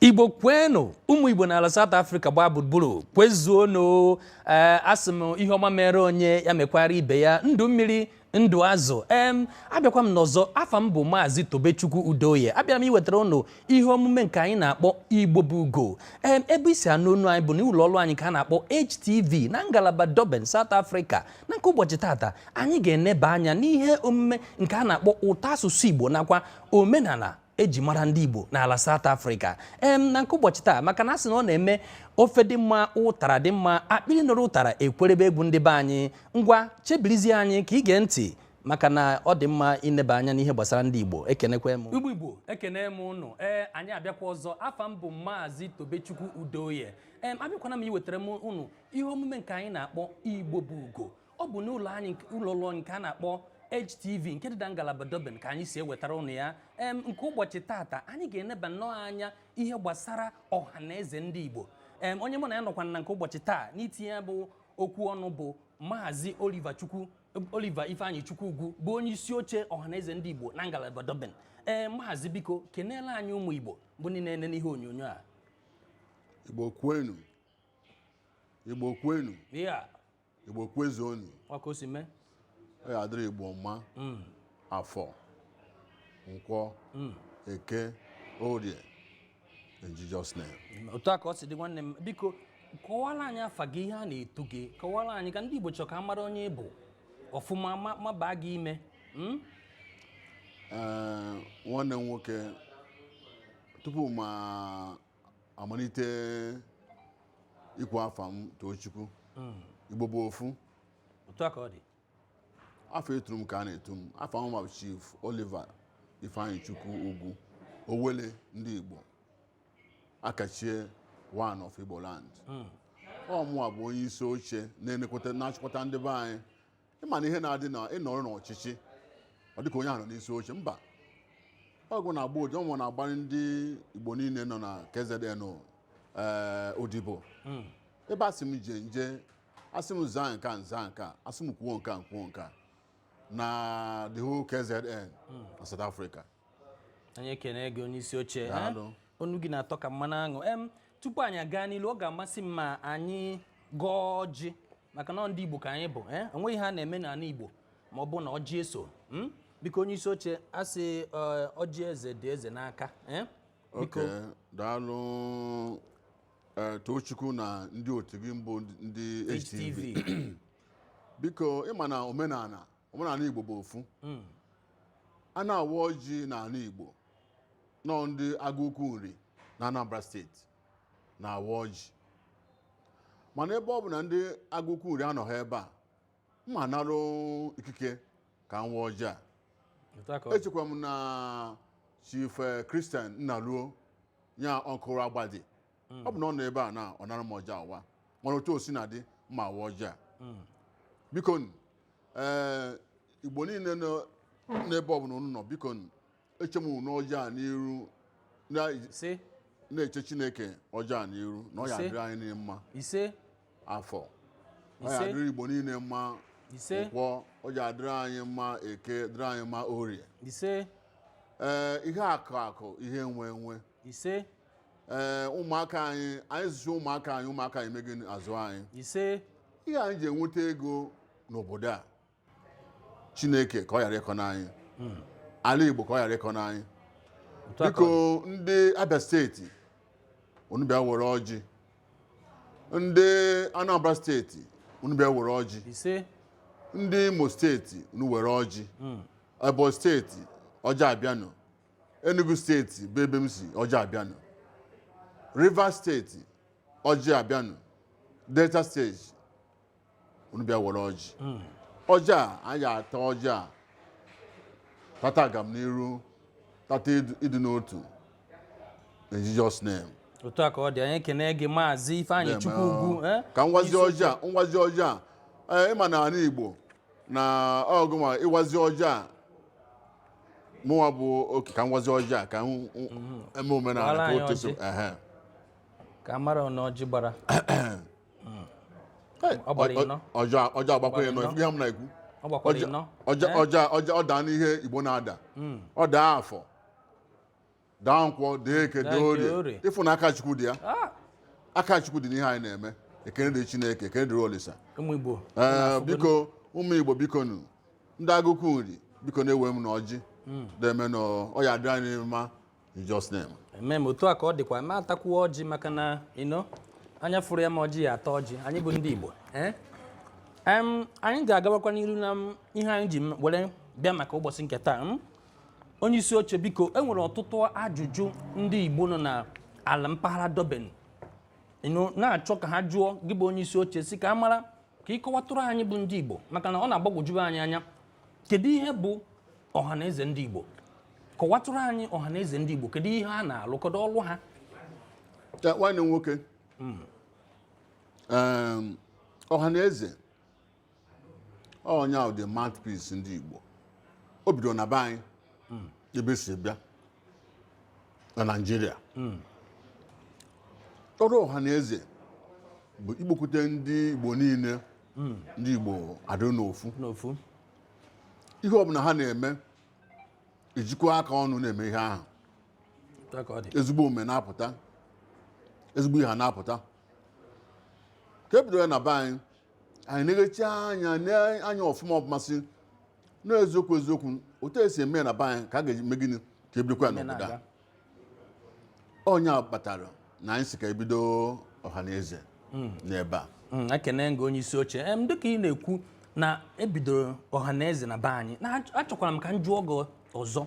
igbo kwenu ụmụ igbo n'ala South Africa gbaa gburugburu kwezuonu ee eh, asị m ihe ọma mere onye ya mekwara ibe ya ndụ mmiri ndụ azụ em abịakwa m n'ọzọ afa m bụ maazị tobechukwu udoye abịara m iwetara ụnụ ihe omume nke anyị na-akpọ igbo bụ ugo em ebe i si anụ onu anyị bụ na ụlọ ọrụ anyị ka a na-akpọ HTV na ngalaba Durban South Africa na nke ụbọchị tata anyị ga-eneba anya n'ihe omume nke a na-akpọ ụtọ asụsụ igbo nakwa omenala e ji mara ndị Igbo n'ala South Africa em na nke ụbọchị taa maka na a sị na ọ na-eme ofe dị mma ụtara dị mma akpịrị nụrụ ụtara ekwerebe egwu ndị be anyị ngwa chebirizie anyị ka i gee ntị maka na ọ dị mma ineba anya n'ihe gbasara ndị Igbo ekenekwe m Igbo Igbo ekene m ụnụ ee anyị abịakwa ọzọ afa m bụ Maazị Tobechukwu Udoye ee abịakwana m iwetara m ụnụ ihe omume nke anyị na-akpọ Igbo bụ ugo ọ bụ n'ụlọ anyị ụlọ ọrụ nke a na-akpọ HTV nke dị na ngalaba Durban ka anyị si ewetara ụnụ ya em nke ụbọchị tata anyị ga-eneba nnọọ anya ihe gbasara ọha na eze ndị Igbo em onye mụ na ya nọkwa na nke ụbọchị taa n'itinye ya bụ okwu ọnụ bụ Maazị Oliver Chukwu Oliver Ifeanyichukwu Ugwu bụ onye isi oche ọhaneze ndị Igbo na ngalaba Durban ee maazị biko keneele anyị ụmụ Igbo bụ ndị na-ene n'ihe onyonyo a Igbo kwenu Igbo kwenu ya Igbo kwezuonu ọ ka o si mee ọ ya-adịrị Igbo mma mm. afọ nkwọ mm. eke orie In Jesus' name. otu a ka ọ si dị nwanne m biko kọwara anyị afa gị ihe a na-etu gị kọwara anyị ka ndị Igbo chọrọ ka a mara onye ị bụ ọfụma ma- ma baa gị ime Mm? Ee, nwanne m nwoke tupu mụ amalite ikwu afa m Tochukwu Igbo bụ ofu otu a ka ọ dị afa e turu m ka a na-etu m afa m bụ Chief Oliver Ifeanyichukwu Ugwu Owele ndị Igbo akachie one of Igbo land hmm. ọ mụwa bụ onye isi oche na-achịkọta ndị be anyị ị ma na ihe na-adị na ịnọrọ n'ọchịchị ọ dịka onye ahụ nọ n'isi oche mba ọ gụ na-agba odi- ọ mụ na-agbara ndị Igbo niile nọ na KZN eh, odibo hmm. ebe a sị m je m je a sị m zaa nke a m zaa nke a a sị m kwuo nke a kwuo nke a na the whole KZN na South Africa anyị ekene gị onye isi oche eh? Daalụ. onu gị na-atọ ka mmanụ aṅụ em tupu anyị agaa n'ilu ọ ga-amasị m ma anyị gọọ ọjị maka na ọ ndị igbo ka anyị bụ eh? o nweghị ihe a na-eme n'ala igbo ma ọ bụ na ọjị eso mm? biko onye isi oche a sị eh, ọjị eze dị eze n'aka eh? biko oke daalụ Ee, Tochukwu na ndị otu gị mbụ ndị HTV HTV. biko ị ma na omenala omenala Igbo bụ ofu a na-awa ọjị n'ala Igbo na ọ ndị Agụukwu Nri na Anambra steeti na-awa ọjị mana ebe ọ bụ na ndị Agụukwu Nri anọghị ebe a m ma anarụ ikike ka m waa ọjị a Otu a ka ọ dị. echekwa m na chief eh, christian nnaruo ya ọkụrụ agbadi ọ bụ na ọ nọ ebe a na ọ nara m ọjị a waa mana otu o si na dị m ma awa ọjị a biko nụ, eh, igbo niile nọ n'ebe ọbụla unu nọ biko nụ, eche m unu ọjị a n'iru na- ise na-eche chineke ọjị a n'iru na ọ ya Ise. adịrị anyị niile mma ise afọ ọ ya Ise. adịrị igbo niile mma ise nkwọ ọ ya adịrị anyị mma eke dịrị anyị mma orie ise ee ihe akụ akụ ihe enwe enwe ise ee ụmụaka anyị anyị zụchaa ụmụaka anyị ụmụaka anyị megị azụ anyị ise ihe anyị ji enweta ego n'obodo a chineke ka ọ ghara ịkọ n'anyị ala igbo ka ọ ghara ịkọ n'anyị Otu a ka biko ọ dị. ndị abia steeti unu bịa were ọjị ndị anambra steeti unu bịa were ọjị ise ndị imo steeti unu were ọjị ebonyi steeti ọjị abịanụ enugu steeti bụ ebe m si ọjị abịanụ rivers steeti ọjị abịanụ delta steeti unu bịa were ọjị ọjị a anyị ata ọjị a tata agamniru tata ịdị- ịdị n'otu in Jesus name otu a ka ọ dị anyị ekene gị maazị ifeanyị Name, chukwu ah, ugwu eh? ka m wazie Isi- ọjị a m wazie ọjị a ee, ị ma na ala Igbo na ọgụ ma ịwazi ọjị a mụnwa bụ oke ka m wazie ọjị a ka m- m- eme Gbara omenala ka anyị o teso ọjị. ehe ka m mara na ọjị gbara Ọ gbara ịnọ. ọjị ọjị agbakwa ịnọ Ịnọ. ihe m na-ekwu Ọ gbakwara Ọjị- ịnọ. ọjị Eh? ọjị ọjị ọ daa n'ihe igbo na-ada ọ daa afọ daa nkwọ daa eke Daa daa nke orie orie. ị fụ na aka chukwu dị ya Ah, aka chukwu dị n'ihe anyị na-eme ekene dị chineke ekene dịrị olisa ụmụ Igbo. ee biko ụmụ igbo biko nụ ndị Agụukwu Nri biko nụ ewe m nụ ọjị deeme nụ ọ ya adịrị anyị mma In Jesus' name. Amen. Otu a ka ọ dịkwa m atakwuo ọjị maka na ino anya fụrụ ya bụ ọjị ya ata ọjị anyị bụ ndị Igbo ee em anyị ga-agawakwa n'iru na m, ihe anyị ji m were bịa maka ụbọchị nke taa m. onye isi oche biko e nwere ọtụtụ ajụjụ ndị Igbo nọ na ala mpaghara Durban ino na-achọ ka ha jụọ gị bụ onye isi oche sị ka a mara ka ị kọwatụrụ anyị bụ ndị Igbo maka na ọ na-agbagwoju anyị anya kedu ihe bụ Ọhanaeze ndị Igbo kọwatụrụ anyị ọha na eze ndị Igbo kedu ihe ha na-alụ kedu ọlụ ha Ya, nwanne m nwoke Em, ọha na eze ọ nya bụ the mouthpiece ndị Igbo o bidoro na be anyị ebe esi bịa na Naịjirịa ọrụ ọha na eze bụ ikpokwute ndị Igbo niile ndị Igbo adịrị n'ofu n'ofu ihe ọbụla ha na-eme ejikwa aka ọnụ na-eme ihe ahụ Otu a ka ọ dị. ezigbo omume na-apụta ezigbo ihe na-apụta ka ebido ya na be anyị anyị eneghachi anya nee anya ọfụma ọfụma sị na eziokwu eziokwu otu esi eme ya na be anyị ka a ga-eme gịnị ka ebidokwa ya Ihe n'obodo a na-aga. ọ nya kpatara na anyị sị ka ebido ọha na eze n'ebe a Mm, ekene m gị onye isi oche em dịka ị na-ekwu na ebidoro ọhaneze na be anyị na achọ- achọkwara m ka m jụọ gị ọzọ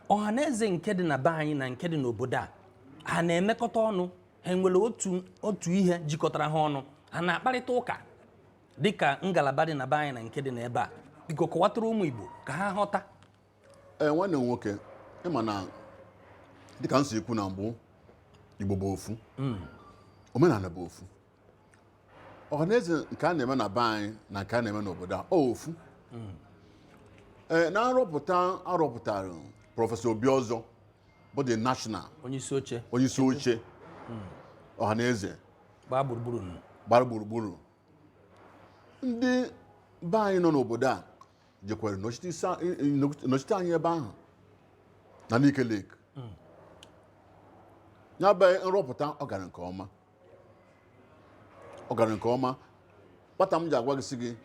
ọhaneze nke dị na be anyị na nke dị n'obodo a ha na-emekọta ọnụ ha nwere otu otu ihe jikọtara ha ọnụ ha na-akparịta ụka dịka ngalaba dị na be anyị na nke dị n'ebe a biko kọwatara ụmụ Igbo ka ha ghọta ee eh, nwanne m nwoke ị ma na dịka m si ekwu na mbụ Igbo bụ ofu hmm. omenala bụ ofu ọhaneze nke a na-eme na be anyị na nke a na-eme n'obodo a ofu hmm. ee eh, na nrọpụta arọpụtara prọfesọ Obiọzọ bụ the national onyeisi oche onyeisi oche hmm. ọhaneze gbara gburugburu gbara gburugburu ndị be anyị nọ n'obodo a jekwere nọchite isi a- i- i- nọchite anyị ebe ahụ na Nike Lake ya bụ nrọpụta ọ gara nke ọma ọ gara nke ọma kpata m ji agwa gị sị gị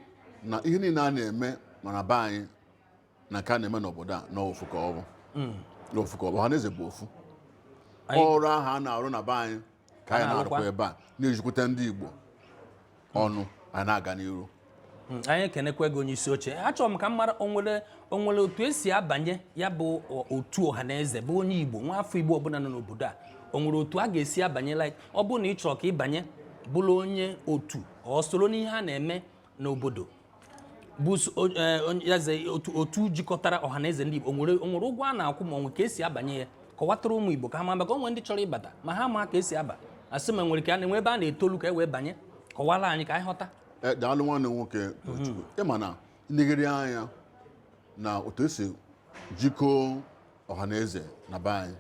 na ihe niile a na-eme ma na be anyị na nke a na-eme n'obodo a na ofu ka ọ bụ na ofu ka ọ bụ ọha na eze bụ ofu Anyị- ọrụ ahụ a na-arụ na be anyị ka anyị na-arụkwa ebe a na-ejikwute ndị Igbo ọnụ anyị na-aga n'iru hmm, anyị ekenekwa gị onye isi oche achọrọ m ka m mara onwere onwere otu esi abanye ya bụ otu ọha na eze bụ onye Igbo nwa afọ Igbo ọbụla nọ n'obodo a onwere otu a ga-esi abanye like ọ bụrụ na ị chọrọ ka ị banye bụrụ onye otu or soro n'ihe a na-eme n'obodo bụ s- o- eh, onye- ya ze otu otu jikọtara ọha na eze ndị Igbo o nwere o nwere ụgwọ a na-akwụ ma o nwere ka esi abanye ya kọwatara ụmụ Igbo ka ha ma maka o nwere ndị chọrọ ịbata ma ha ama ka esi aba asị ma nwere ka a na-enwe ebe a na-etolu ka e wee banye kọwara anyị ka anyị ghọta Eh, daalụ nwanne m nwoke Tochukwu ị ma na i legharịa anya na otu esi jikọọ ọha na eze na be anyị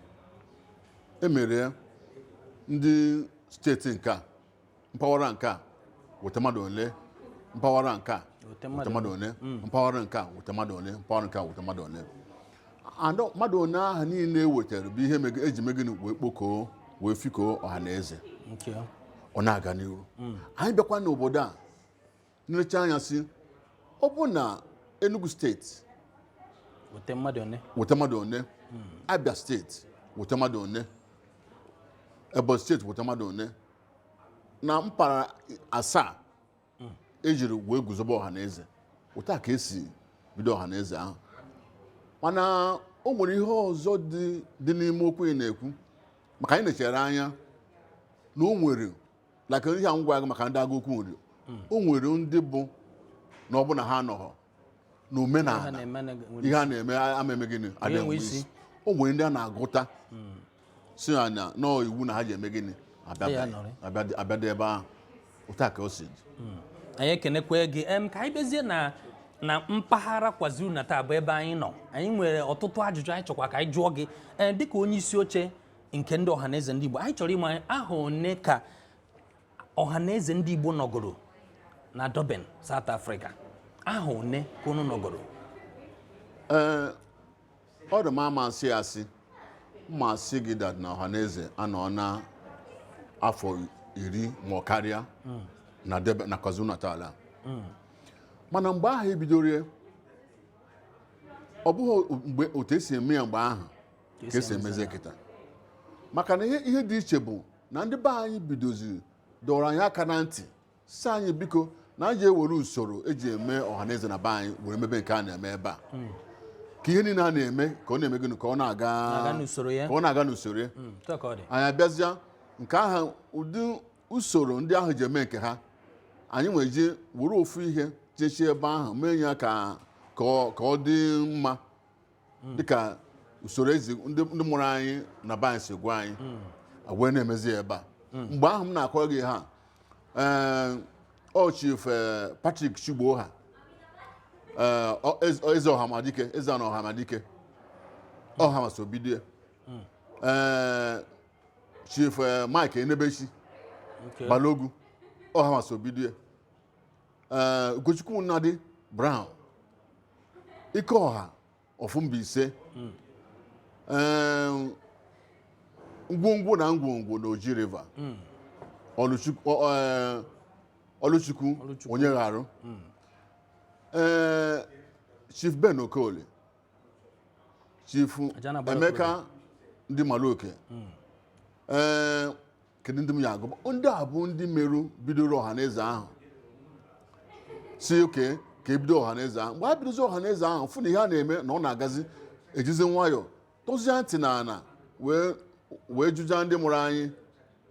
emere ya ndị steeti nke a mpaghara nke a weta mmadụ ole mpaghara nke a Weta weta mmadụ ole mpaghara nke a weta mmadụ ole mpaghara nke a weta mmadụ ole and mmadụ one ahụ niile e wetara bụ ihe mege- eji me gịnị wee kpokọọ wee fikọọ ọha na eze ọ na-aga n'ihu anyị bịakwa n'obodo a nechaa anya sị ọ bụ na Enugu steeti wete mmadụ one Abia steeti wete mmadụ one Ebonyi steeti wete mmadụ one na mpaghara asaa ejiri wee guzobe ọha na eze otu a ka esi bido ọha na eze ahụ mana o nwere ihe ọzọ dị n'ime okwu ị na-ekwu maka anyị nechere anya na o nwere like ihe a m gwa gị maka ndị Agụukwu Nri o nwere ndị bụ na ọ bụ na ha anọghọ ha n'omenala na-eme na- nwere ihe a na-eme ama eme gịnị adịghị enwe enwe isi. isi o nwere ndị a na-agụta si na na nọọ iwu na ha ji eme gịnị abịa- Ya nọrị. abịa- abịadị ebe ahụ otu a ka o si dị anyị ekenekwe gị em ka anyị bịazie na na mpaghara KwaZulu Natal bụ ebe anyị nọ anyị nwere ọtụtụ ajụjụ anyị chọkwa ka anyị jụọ gị ee dịka onye isi oche nke ndị ọhaneze ndị Igbo anyị chọrọ ịma ahọ one ka ọhaneze ndị Igbo nọgoro na Durban South Africa ahọ one ka unu nọgoro ee ọ dị m ama asị asị ma m sị gị that na ọhaneze anọọna afọ iri ma ọ karịa hmm. na Durban na KwaZulu Natal hmm. mana mgbe ahụ ebidoro ọ bụghị mgbe otu esi eme ya mgbe ahụ ka esi emezie kịta maka na ihe ihe dị iche bụ na ndị be anyị bidoziri dọrọ anyị aka na ntị sị anyị biko na anyị je ewere usoro eji eme ọhaneze na be anyị were mebe nke a na-eme ebe a ka ihe niile a na-eme ka ọ na-eme gịnị ka ọ na-aga Na-aga n'usoro ya. ka ọ na-aga n'usoro ya Mm, otu a ka ọ dị anyị abịazịa nke ahụ ụdị usoro ndị ahụ ji eme nke ha anyị ewee je were ofu ihe jechie ebe ahụ mee ya ka ka ọ ka ọ dị mma hmm. dịka usoro ezi ndị mụrụ anyị na be anyị si gwa anyị hmm. wee na-emezi ebe a hmm. mgbe ahụ m na-akọrọ gị ha eh, ọ chief eh, Patrick Chigboha eh, eze ọhamadike eze na ọhamadike ọhamasobidie chief Mike Enebechi Balogu ọhamasobidie Ugochukwu Nnadi Brown Ikeọha ọfụ mba ise Em, ngwongwo na ngwongwo na Oji River Ọlụchukwu- ọ- ọ- ọlụchukwu Ọlụchukwu. Onyegharụ ee chief Ben Okoli chief Aja na-agbara Emeka ndị maluoke ee kedu ndị m ya agụ ndị a bụ ndị merụ bidoro ọha na eze ahụ sị okay ka ebido ọha na eze ahụ mgbe a bidozi ọha na eze ahụ fụ na ihe a na-eme na ọ na-agazi ejizi nwayọọ tọzie ntị na ana wee wee jụjaa ndị mụrụ anyị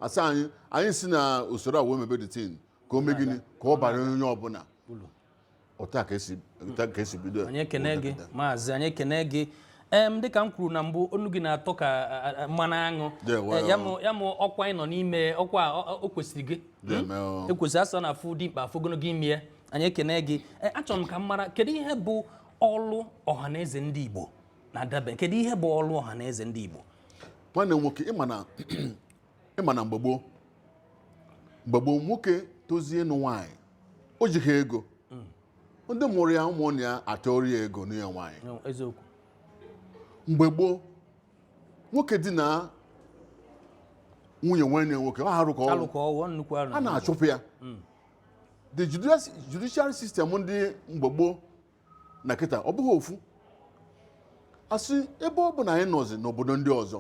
asaa anyị anyị si na usoro a wee mebe the thing ka o mee gịnị ka ọ bara onye ọbụla otu a ka esi otu a ka esi bido ya. anyị ekene gị maazị anyị ekene gị em dịka m kwuru na mbụ onu gị na-atọ ka a, a, a, mmanụ aṅụ Yeah, well, Eh, ya mụ- ya mụ ọkwa ị nọ n'ime ọkwa a, ọ- ọ- o kwesịrị gị Deeme o. ekwesị asị na afụ dimkpa afụ ogologo imi ya anyị ekene gị Eh, achọrọ m ka m mara kedu ihe bụ ọlụ ọhaneze ndị igbo na Durban kedu ihe bụ ọlụ ọhaneze ndị igbo nwanne m nwoke ịma na ịma na mgbe gboo mgbe gboo nwoke tozie ịnụ nwaanyị o jighị ego ndị mụrụ ya ụmụnne ya atụọrọ ya ego nụnye ya nwaanyị No, eziokwu mgbe gboo nwoke dina nwunye nwanne ya nwoke ọ arụ ka ọ rụrụ alụ ka ọ wụ ọ nnukwu arụ a na-achụpụ ya the judici- judiciary system ndị mgbe gboo na kịta ọ bụghị ofu asị ebe ọ bụ na anyị nọzi n'obodo ndị ọzọ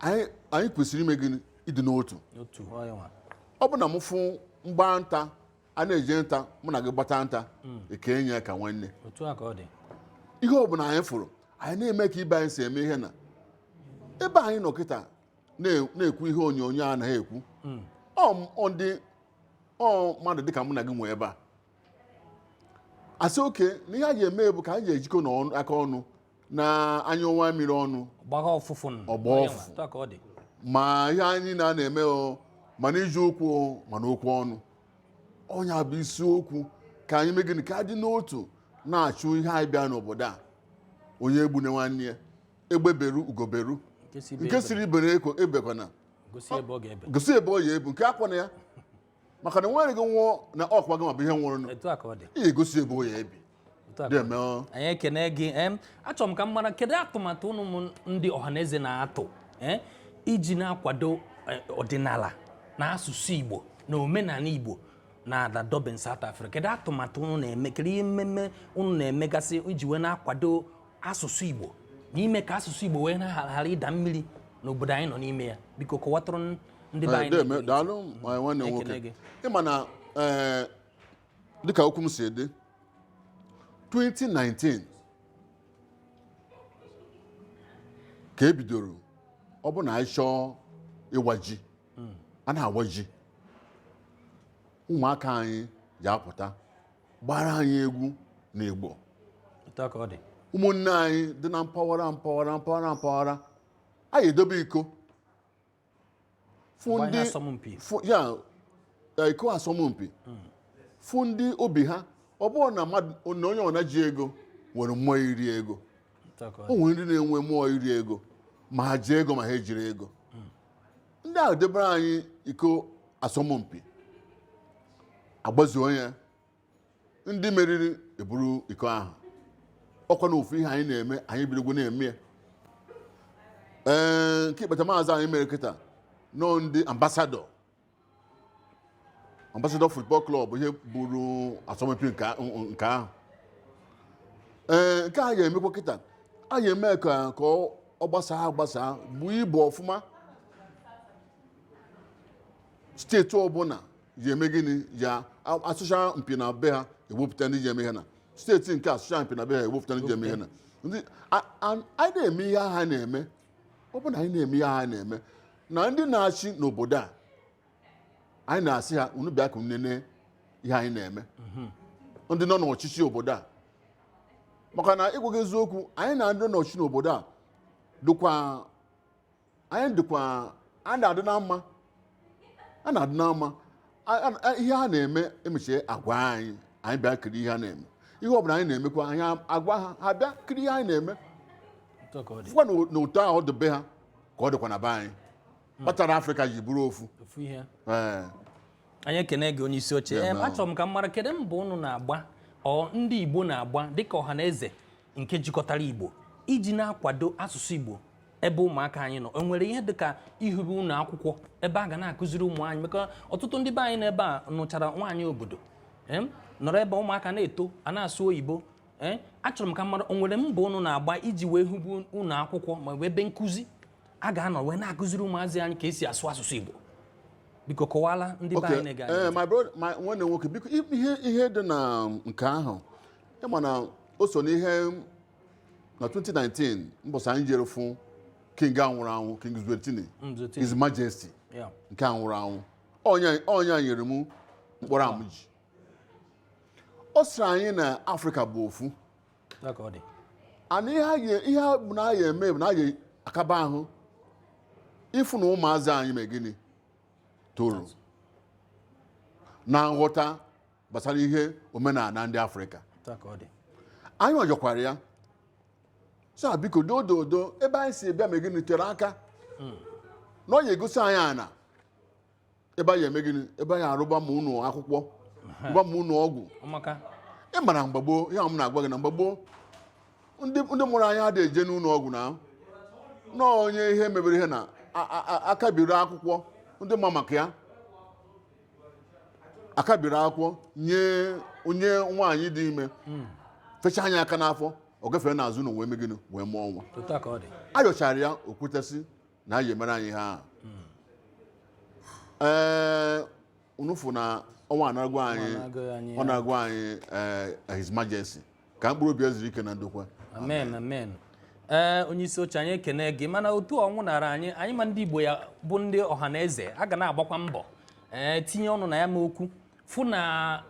anyị anyị kwesịrị ime gịnị ịdị n'otu otu onye nwa ọ bụ na m fụ mgba nta a na-eje nta mụ na gị gbata nta ekenye ya ka nwanne otu a ka ọ dị ihe ọ bụla anyị fụrụ anyị na-eme ka ibe anyị si eme ihe na ebe anyị nọ kịta na- na-ekwu ihe onyonyo a anaghị ekwu ọ m- ọ ndị ọ mmadụ dịka mụ na gị nwe ebe a asị okay na ihe a ga-eme bụ ka anyị ga-ejikọ na ọnụ- aka ọnụ na anyụọ nwamiri ọnụ ọ gbaa ọfụfụ nụ. Ọ gbaa Onye ọfụ. nwa, otu a ka ọ dị ma ihe anyị na na-eme o ma na iji okwu o ma na okwu ọnụ ọ nya bụ isiokwu ka anyị mee gịnị ka adị n'otu na-achụ ihe anyị bịa n'obodo a onye egbune nwanne ya egbe beru ugo beru nke si ibe nke ebe siri ibe ya ebekwana gosi ebe ọ ga-ebe gosi ebe ọ ya ebe nku akwana ya maka na nwanne gị nwụọ na ọkwa gị ma bụ ihe nwụrụ nụ etu a ka ọ dị ihe egosi ebe ọ ya ebi Otu a ka deeme o. anyị ekene gị em achọrọ m ka m mara kedu atụmatụ ụnụ mụ ndị ọhaneze na-atụ eh, iji na-akwado eh, ọdịnala na asụsụ igbo na omenala igbo na ala Durban South Africa kedu atụmatụ ụnụ na-eme kedu ihe mmemme ụnụ na-emegasị iji wee na-akwado asụsụ Igbo n'ime ka asụsụ Igbo wee ghara ịda mmiri n'obodo anyị nọ n'ime ya biko kọwatụrụ ndị be anyị daalụ nwanne nwoke ịma na eh, dịka okwu m si dị 2019 ka e bidoro ọ bụ na anyị chọọ ịwa ji hmm. a na-awa ji ụmụaka anyị ji apụta gbara anyị egwu na Igbo Otu a ka ọ dị. ụmụnne anyị dị na mpaghara mpaghara mpaghara mpaghara anyị edobe iko fụ Mgbe anyị ndị asọmpi. fụ- ya eh, iko asọmpi fụ ndị obi ha ọ bụrụ na mmadụ na onye ọbụna ji ego nwere mmụọ iri ego Otu a ka ọ o dị. nwere ndị na-enwe mmụọ iri ego ma ha ji ego ma ha ejiri ego ndị ahụ debere anyị iko asọmpi agbazuo ya ndị meriri eburu iko ahụ ọkwa na ofu ihe anyị na-eme anyị bidogwo na-eme ya ee nke ikpetamazụ anyị mere kịta na ọ ndị Ambassador Ambassador Football Club ha buru asọmpi nke a- nke ahụ ee nke a ga-emekwa kịta a ga-eme ka ka ọ ọ gbasaa agbasaa buo ibu ọfụma steeti ọbụla ga-eme gịnị ya asọcha mpi na be ha ewepụta ndị ji eme ihe na steeti nke a sọcha mpi na be ha ewepụta ndị ji eme ihe na ndị a- a- anyị na-eme ihe ha na-eme ọ bụ na anyị na-eme ihe ha na-eme na ndị na-achị n'obodo a anyị na-asị ha unu bịa ka unu nene ihe anyị na-eme ndị nọ n'ọchịchị obodo a maka na ịgwa gị eziokwu anyị na ndị nọ n'ọchịchị n'obodo a dịkwa anyị dịkwa anyị na-adị na mma a na-adị na mma A- a- a- ihe ha na-eme emechie agwa anyị anyị bịa kiri ihe ha na-eme ihe ọbụla anyị na-emekwa anyị agwa ha ha bịa kiri ihe anyị na-eme Otu a ka ọ dị. fụkwa na na otu ahụ ọ dị be ha ka ọ dịkwa na be anyị kpatara afrịka ji bụrụ ofu Ofu ihe. Ee. anyị ekene gị onye isi oche Ya Em, na- achọrọ m ka m mara kedu mbọ unu na-agba ọ ndị igbo na-agba dịka Ọhanaeze nke jikọtara Igbo iji na-akwado asụsụ Igbo ebe ụmụaka anyị nọ e nwere ihe dịka ihibe ụlọ akwụkwọ ebe a ga na-akụziri ụmụ anyị maka ọtụtụ ndị be anyị n'ebe a nụchara nwaanyị obodo nọrọ ebe ụmụaka na-eto a na-asụ oyibo ee achọrọ m ka m mara o nwere mbọ ụnụ na-agba iji wee hibe ụlọ akwụkwọ ma ọ bụ ebe nkụzi a ga-anọ wee na-akụziri ụmụazị anyị ka e si asụ asụsụ Igbo biko kọwaara ndị be anyị na-ege eh, nwanne nwoke biko ihe dị na um, nke ahụ ị ma na o so n'ihe na 2019 mbọsị anyị jere fụ king a nwụrụ anwụ king Zwelithini Zwelithini. his majesty Yeah. nke a nwụrụ anwụ Onye a- onye a nyere m mkpọrọ a mụ ji ọ sịrị anyị na afrịka bụ ofu Ya ka ọ dị. and ihe a ga- ihe a bụ na a ga-eme bụ na a ga-akaba ahụ ịfụ na ụmụazị anyị mee gịnị toro na nghọta gbasara ihe omenala ndị afrịka Otu a ka ọ dị. anyị yọkwara ya sị biko dododo ebe anyị si bịa mee gịnị tere aka na ọ ya-egosi anyị ana ebe anyị eme gịnị ebe anyị arụba ma ụnọ akwụkwọ rụba ma ụnọ ọgwụ Ọ maka. ị mara mgbe gboo ihe m na-agwa gị na mgbe gboo ndị ndị mụrụ anyị adịghị eje n'ụlọ ọgwụ na nọọ onye ihe mebere ihe na a- a- a- a kabiri akwụkwọ ndị ma maka ya a kabiri akwụkwọ nye onye nwaanyị dị ime hmm. fechaa nya aka n'afọ ọ gafere n'azụ ụnọ wee me gịnị wee mụọ nwa a yọchara ya o kweta sị na a ya-emere anyị ha hmm. ee unu fụ na ọnwụ anagwo anyị ọ nagwo anyị eh, his majesty ka mkpụrụ obi ya zuru ike na ndokwa amen amen ee onye isi oche anyị ekene gị mana otu ọ nwụnara anyị anyị mụ ndị igbo ya bụ ndị ọha na eze a ga na-agbakwa mbọ ee tinye ọnụ na ya mụ okwu fụ na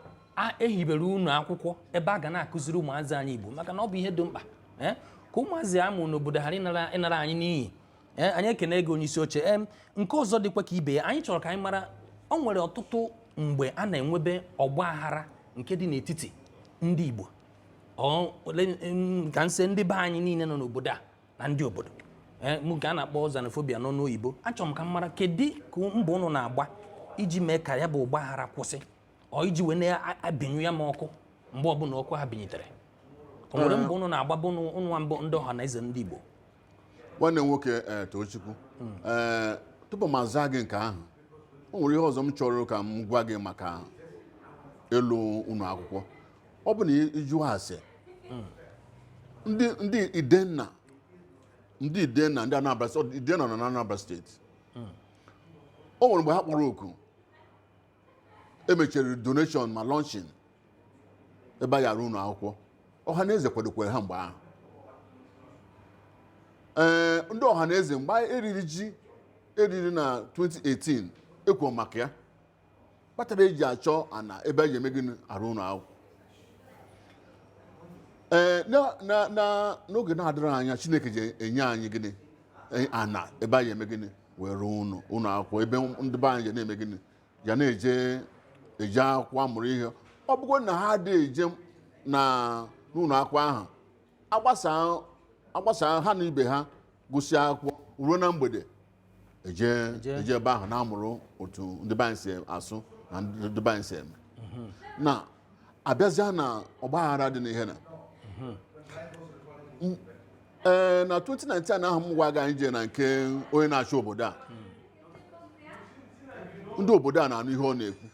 e hibere ụnọ akwụkwọ ebe a ga na-akụziri ụmụazị anyị igbo maka na ọ bụ ihe dị mkpa ee ka ụmụazị a mụ n'obodo ghara ịnara ịnara anyị n'iyi Ee, anyị ekene gị onye isi oche ee nke ọzọ dịkwa ka ibe ya anyị chọrọ ka anyị mara o nwere ọtụtụ mgbe a na-enwebe ọgba aghara nke dị n'etiti ndị Igbo Ọ- ole- em, ka m sị ndị be anyị niile nọ n'obodo a na ndị obodo Ee, mụ nke a na-akpọ xenophobia n'ọnụ oyibo achọrọ m ka m mara kedu ka mbọ ụnụ na-agba iji mee ka ya bụ ọgba aghara kwụsị or iji wee na-abịnyụ ya mụ ọkụ mgbe ọbụla ọkụ ha binyitere o nwere mbọ ụnụ na-agba bụ ụnụ nwa bụ ndị ọha na eze ndị Igbo nwanne nwoke ee eh, Tochukwu ee eh, tupu m azaa gị nke ahụ o nwere ihe ọzọ m chọrọ ka m gwa gị maka ịlụ ụlọ akwụkwọ ọ bụ na ị jụọ ase ndị Idenna ndị Idenna ndị Anambra steeti Idenna nọ na Anambra steeti o nwere mgbe ha kpọrọ oku e mechiri donation ma launching ebe a ya-arụ ụlọ akwụkwọ ọha na eze kwadokwere ha mgbe ahụ ee ndị ọha na eze mgbe anyị riri ji e riri na 2018 e kwuo maka ya kpatara e ji achọ ana ebe anyị eme gịnị arụ ụlọ akwụkwọ ee na- na- na- n'oge na-adịrọ anya chineke ya-enye anyị gịnị E- ana ebe anyị eme gịnị wee rụọ ụlọ ụlọ akwụkwọ ebe ndị be anyị ya na-eme gịnị ya na-eje eje akwụkwọ amụrụ ihe ọ bụgo na ha adị eje na n'ụlọ akwụkwọ ahụ agbasa agbasa ha na ibe ha gụsịa akwụkwọ ruo na mgbede eje Eje. eje ebe ahụ na-amụrụ otu ndị be anyị si asụ na ndị be anyị si eme na a bịazịa na ọgbaghara dị n'ihe na M- ee na 2019 ahụ m gwa gị anyị jee na nke onye na-achị obodo a ndị obodo a na-anụ ihe ọ na-ekwu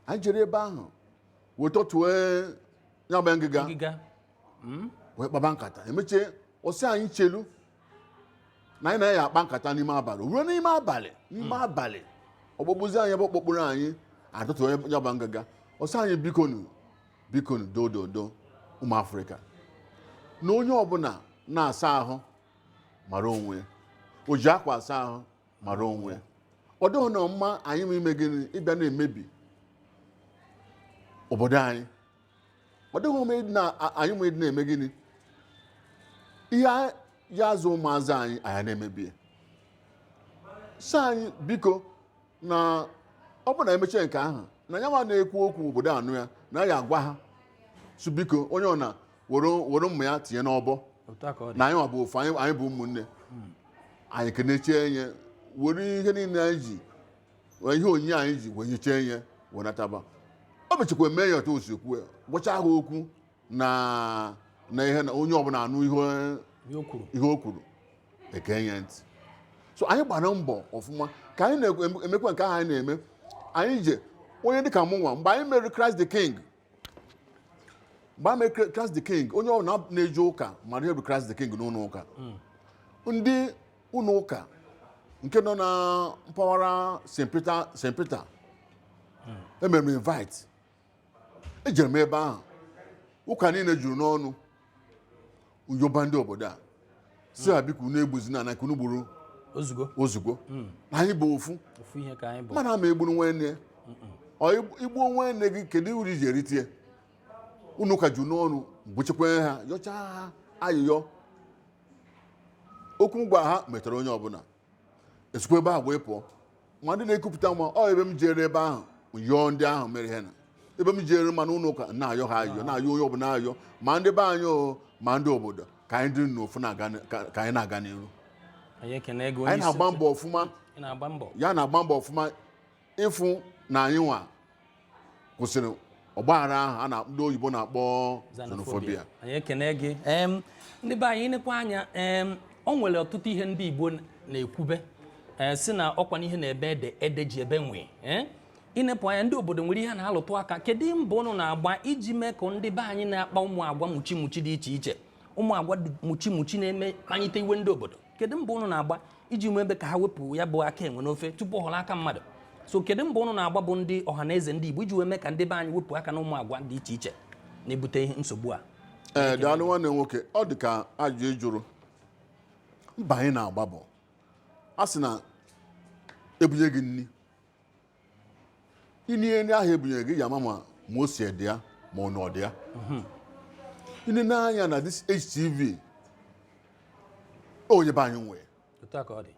anyị jere ebe ahụ wee tọtue ya bụ ngịga ngịga Mm. wee kpaba nkata e mechie ọ sị anyị chelu na anyị ya-akpa nkata n'ime abalị ruo n'ime abalị n'ime abalị ọ kpọkpuzie anyị ebe ọ kpọkpuru anyị atọtue ya bụ ngịga ọ sị anyị bikonu bikonu dododo ụmụ afrịka na onye ọbụla na-asa ahụ mara onwe ya o ji akwa asa ahụ mara onwe ya ọ dịghị na mma anyị ma ime gịnị ịbịa na-emebi obodo anyị ọ dịghị mma ịdị na- a- anyị ma ịdị na-eme gịnị ihe a- ya azụ ụmụazị anyị anyị na-emebi ya sị anyị biko na ọ bụ na e mechie nke ahụ na ya nwa na-ekwu okwu obodo anụ ya na ya agwa ha sị biko onye ọbụna were were mma ya tinye n'ọbọ otu a ka ọ dị na anyị nwa bụ ofu anyị anyị bụ ụmụnne anyị kenechie nye were ihe niile anyị ji wee ihe onyinye anyị ji wee nyechie nye wee nataba o mechakwa mee ya otu o si kwuo ya gwachaa ha okwu na na ihe na onye ọbụla anụ ihe ihe o kwuru ihe o kwuru ege ya ntị so anyị gbara mbọ ọfụma ka anyị na-emekwa nke ahụ anyị na-eme anyị je onye dịka mụnwa mgbe anyị mere Christ the King mgbe anyị mere Christ the King onye ọbụna na-eje ụka mara ihe bụ Christ the King n'ụlọ ụka ndị ụlọ ụka nke nọ na mpaghara St. Peter St. Peter e mere m invite ejere m ebe ahụ ụka niile juru n'ọnụ m yọba ndị obodo a sị ha biko unu egbuzina na nke unu gburu o zugo o zugo na anyị bụ ofu ofu ihe ka anyị bụ mmadụ ama egburu nwanne ya ọ i gbu- i gbuo nwanne gị kedu uru i ji erite ya ụnọ ụka juru n'ọnụ gbuchekwa ha yọchaa ha ayịyọ okwu m gwara ha metara onye ọbụla e sikwa ebe ahụ wee pụọ ma ndị na-ekupụta nwa ọ ebe m jere ebe ahụ yọọ ndị ahụ mere ihe na ebe m jere ma n'ụlọ ụka na-ayọ ha ayọ na-ayọ onye ọbụla ayọ ma ndị be anyị o ma ndị obodo ka anyị dịrị n'ofu na-aga n- ka ka anyị na-aga n'iru anyị ekene gị onye anyị isi na-agba mbọ ọfụma ị na-agba mbọ ya na-agba mbọ ọfụma ịfụ na anyị nwa kwụsịrị ọgbaghara ahụ a na ndị oyibo na-akpọ xenophobia anyị ekene gị em ndị be anyị i nepụ anya em o nwere ọtụtụ ihe ndị igbo na-ekwube ee sị na ọ kwa na ihe na-eme ede ede ji ebe nwii ee i nepụ anya ndị obodo nwere ihe a na-alụtụ aka kedu mbọ unu na-agba iji mee ka ndị be anyị na-akpa ụmụ agwa muchi muchi dị iche iche ụmụ agwa muchi muchi na-eme kpanyite iwe ndị obodo kedu mbọ ụnụ na-agba iji wee mee ka ha wepụ ya bụ aka enwe n'ofe tupu ọ ghọrọ aka mmadụ so kedu mbọ ụnụ na-agba bụ ndị ọha na eze ndị Igbo iji wee mee ka ndị be anyị wepụ aka na ụmụ agwa dị iche iche na-ebute ihe nsogbu a ee eh, daalụ nwanne nwoke ọ dị ka ajụjụ ị jụrụ mbọ anyị na-agba bụ a sị na ebunye gị nri i rie nri ahụ ebunyere gị ị ya-ama ma ose dị ya ma nnu dị ya i nee anya na this HTV onye be anyị nwe otu a ka ọ dị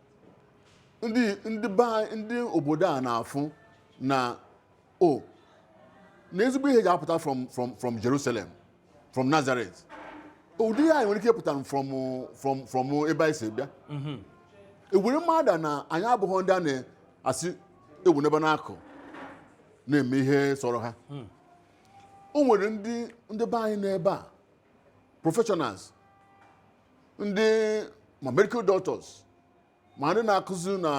ndị ndị be anyị- ndị obodo a na-afụ na o na ezigbo ihe ji apụta from from from Jerusalem from Nazareth ụdị ya anyị nwere ike ịpụta from from from ebe anyị si bịa mhm. ewere mara na anyị abụghị ndị a na-asị ewu n'ebe n'akụ na-eme ihe sọrọ ha hmm. o nwere ndị ndị be anyị n'ebe a professionals ndị ma medical doctors ma ndị na-akụzi na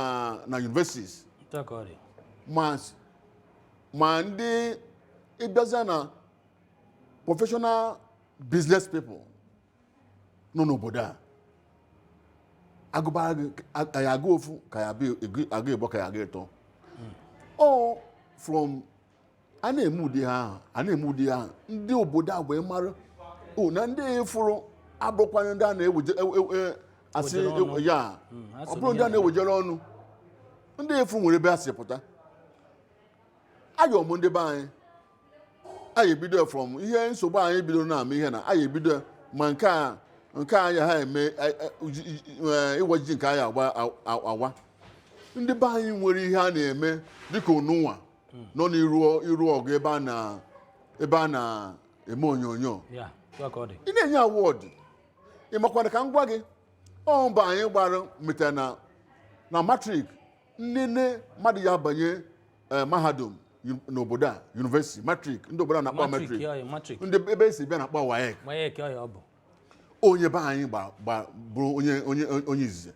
na universities Otu a ka ọ dị. ma s- ma ndị ịbịazịa na professional business people nọ n'obodo a agụbara gị a- ka ya agụ ofu ka ya abịa egu- agụ ịbọ ka ya agụ ịtọ all from a na-eme ụdị ha ahụ a na-eme ụdị ahụ ndị obodo a wee mara o na ndị fụrụ abụrụkwanye ndị a na-eweje e- e- e- asị Wejere ọnụ. ya Mm, ha so ọ bụrụ ndị a n'ihe na-ewejere ọnụ ndị a fụ nwere ebe ha si pụta ayọ m ndị be anyị anyị ebido from ihe nsogbu anyị bidoro na-ama ihe na anyị ebido ma nke a nke anyị ha eme a- a- uji- iji- eh, ịwa ji nke anyị agba a- a- awa ndị be anyị nwere ihe a na-eme dịka onunwa hmm. nọ n'iru ọgụ ebe a na ebe a na-eme onyonyo ị na-enye award ị makwana ka m gwa gị ọ mbọ anyị gbara metara na na matric nnene mmadụ ya banye eh, mahadum n'obodo a university matric ndị obodo a na-akpọ matric ndị ebe esi bịa na-akpọ WAEC onye be anyị bụrụ onye izizi